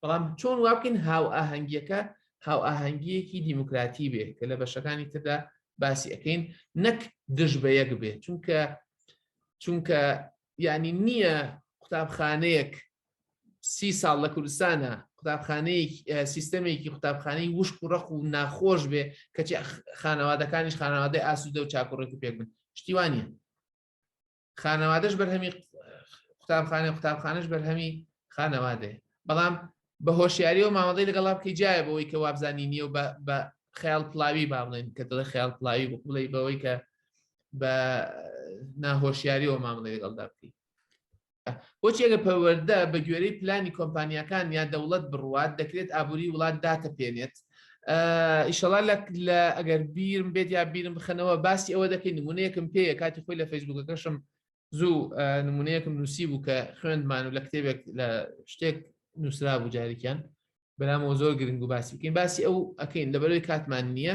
بەڵام چۆن وابکەین هاوئاهەنگیەکە هاوئاهەنگیەکی دیموکراتی بێ کە لە بەشەکانی تردا باسی ئەەکەین نەک دژ بە یەک بێ چونکە چونکە ینی نییە قوتابخانەیەک سی ساڵ لە کوردستانە قوتابخانەیەکی سیستەمێکی قوتابخانەی وشک و ڕق و ناخۆش بێ کەچی خانەوادەکانیش خانەوادەی ئاسوودە و چاکوڕێک و پێک بن شتیوانە خانەوادەش بەرهەمی قوتابخانە قوتابخانەش بەرهەمی خانەوادەیە بەڵام بە هۆشیاریەوە مامەڵی لەگەڵا بکەی جایە بەوەی کە وابزانانی نیە و بە خیال پلاوی با بڵێن کە دڵی خیال پلاوی بڵی بەوەی کە بە ناهۆشیاریەوە مامەڵی لەگەڵدا بکەی بۆچی ئەگە پەروەەردە بە گوێرەی پلانی کۆمپانیەکان یا دەوڵەت بڕوات دەکرێت ئابووری وڵات داتە پێێنێت ئیشەڵا لە لە ئەگەر بیرم بێت یا بیرم بخەنەوە باسی ئەوە دەکەین نمونەیەکم پێیە کاتی خۆی لە فەیسبوکەکەشم زوو نمونەیەکم نووسی بوو کە خوێندمان و لە کتێبێک لە شتێک نووسرا بوو جارێکیان بەنامەوە زۆر گرنگ و باسی بکەین باسی ئەو ئەەکەین لەبەرەوەی کاتمان نییە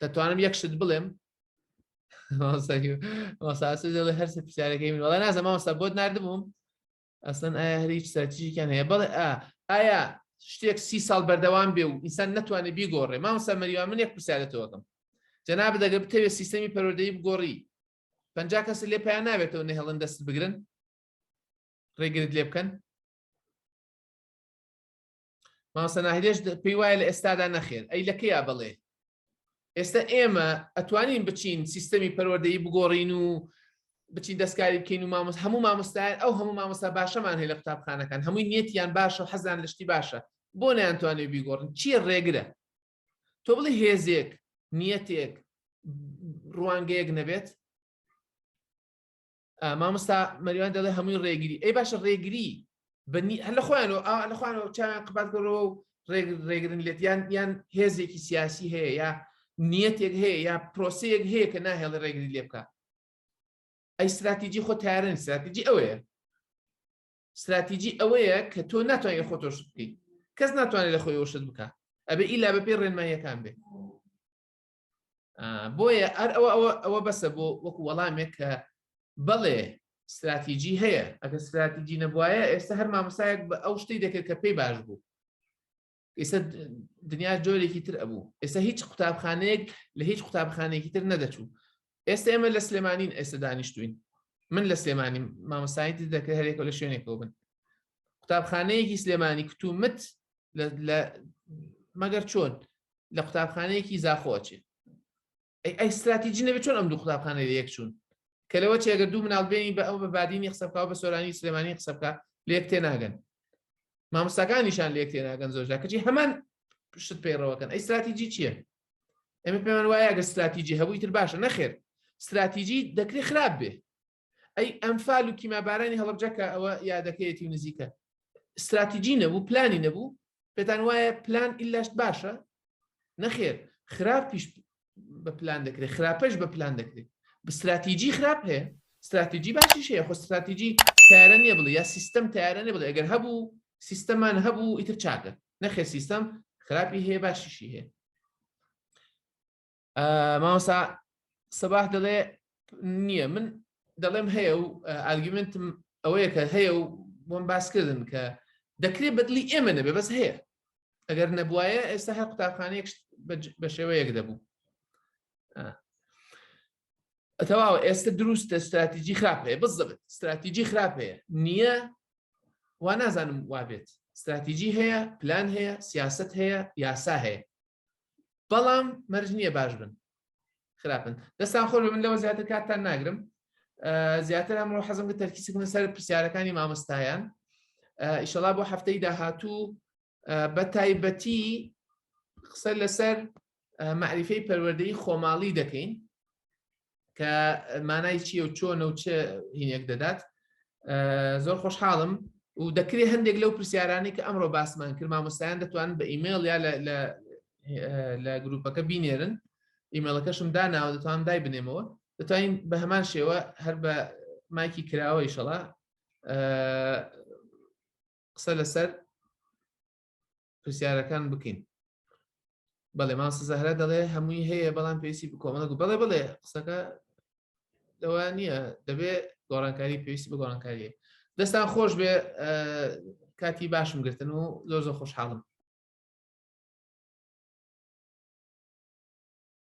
دەتوانم یەک شت بڵێم هەرسە پرسیارەکەی من وڵای نازە ماوەستا بۆت نردبووم ئەسن ئایا هەر هیچ سەرتیژیکیان هەیە بڵێ ئایا شتێک سی ساڵ بەردەوام بێ و ئینسان نتوانێت بیگۆڕێ مامسا مەریوان من یەک پرسیارەتەوەکەم جەنا بدەگە بتەوێت سیستەمی پەرۆدەی بگۆڕی پنج کەس لێ پیا ناوێتەوە نەهێڵن دەست بگرن ڕێگرت لێ بکەن مامۆستا ناهیدێش پێی وایە لە ئێستادا نەخێر ئەی لە کەیا بڵێ ئێستا ئێمە ئەتوانین بچین سیستەمی پەروەردەی بگۆڕین و بچین دەستکاری بکەین و مامۆس هەموو مامۆستایان ئەو هەموو مامۆستا باشەمان هەیە لە قوتابخانەکان هەمووی نیەتیان باشە و حەزان لەشتی باشە بۆ نەیانتوانێ بیگۆڕن چییە ڕێگرە تۆ بڵی هێزێک نیەتێک ڕوانگەیەک نەبێت مامۆستا مەریوان دەڵێ هەمووی ڕێگری ئەی باشە ڕێگری بەنی هەر لە خۆیانەوە ئا لە خۆیانەوە چیان قبات کەەوە و ڕێگرن لێت یان یان هێزێکی سیاسی هەیە یا نیەتێک هەیە یا پرۆسەیەک هەیە کە ناهێڵی ڕێگری لێ بکە ئەی استراتیجی خۆ تارن استراتیجی ئەوەیە استراتیجی ئەوەیە کە تۆ ناتوانێت خۆ تۆش بکەیت کەس ناتوانێت لە خۆی وشت بکە ئەبێ ئیلا بەپی ڕێنماییەکان بێت بۆیە ئەر ئەوە ئەوە ئەوە بەسە بۆ وەکو وەڵامێک کە بەڵێ استراتیجی هەیە ئەگە استراتیجی نەبواە ئێستا هەر مامەسایەک بە ئەو شتی دەکرد کە پێی باش بوو ئێستا دنیا جۆرێکی تر ئەبوو ئێستا هیچ قوتابخانەیەک لە هیچ قوتابخانێکی تر نەدەچوو ئێستا ئێمە لە سلێمانین ئێستا دانیشتوین من لە سلێمانی مامەسایتی دەکرد هەرێکە لە شوێنێکەوە بن قوتابخانەیەکی سلێمانی کتومت مەگەر چۆن لە قوتابخانەیەکی زاخۆ ئەچێت ئەی استراتیجی نەبێت چۆن ئەم دوو قوتابخانە لە یەک چوون کە لەوە چێگە دوو مناڵ بێنی بە ئەو بە بادینی قسەبکە بە سۆرانی سلێمانی قسەبکە لێک تێ ناگەن مامۆستاکانیشان لێک تێ ناگەن زۆرجا کەچی هەمان شت پەیڕەوەکەن ئەی استراتیجی چییە؟ ئەمە پێمان وایە گە استراتیجی هەبووی تر باشە نەخێر استراتیجی دەکرێت خراپ بێ ئەی ئەمفال و کیمابارانی هەڵبجەکە ئەوە یادەکەیەتی و نزیکە استراتیجی نەبوو پلانی نەبوو پێتان وایە پلان ئیلاشت باشە نەخێر خراپ پیش بە پلان دەکرێت خراپەش بە پلان دەکرێت بستراتیجی خراپ هەیە استراتیجی باشیش هەیە خۆ استراتیجی تارە نیە بڵێ یا سیستم تارە نێ بڵێ ئەگەر هەبوو سیستەمان هەبوو ئیتر چاکە نەخێ سیستم خراپی هەیە باشیشی هەیە مامۆستا سەباح دەڵێ نییە من دەڵێم هەیە و ئارگومنتم ئەوەیە کە هەیە و بۆم باسکردن کە دەکرێت بەدلی ئێمە نەبێ بەس هەیە ئەگەر نەبواە ئێستا هەر قوتابخانەیەک بە شێوەیەک دەبوو ئەتەواوە ئێستا دروستە استراتیجی خراپ هەیە بەس دەبێت استراتیجی خراپ هەیە نییە وا نازانم وابێت استراتیجی هەیە پلان هەیە سیاست هەیە یاسا هەیە بەڵام مەرج نییە باش بن خراپن دەستان خۆش من لەوە زیاتر کاتتان ناگرم زیاتر ئەمڕۆ حەزم کە تەرکیسکردن سەر پرسیارەکانی مامۆستایان ئیشەڵا بۆ هەفتەی داهاتوو بە تایبەتی قسە لەسەر معریفەی پەروەردەی خۆماڵی دەکەین کە مانای چیە و چۆنە و چ هینێک دەدات زۆر خۆشحاڵم و دەکرێ هەندێک لەو پرسیارانی کە ئەمڕۆ باسمان کرد مامۆستایان دەتوان بە ئیممەل یا لە گروپەکە بینێرن ئیمەڵەکەشم داناوە دەتوان دای بنێمەوە دەتوانین بە هەمان شێوە هەر بە مایکی کراوە ئیشەڵا قسە لەسەر پرسیارەکان بکەین بەڵێ ماوەسە زەهرا دەڵێ هەمووی هەیە بەڵام پێویستی بکۆمەڵک بەڵێ بڵێ قسەکە لەوە نییە دەبێ گۆڕانکاری پێویستی بە گۆڕانکاریە دەستان خۆش بێ کاتی باشم گرتن و زۆر زۆر خۆشحاڵم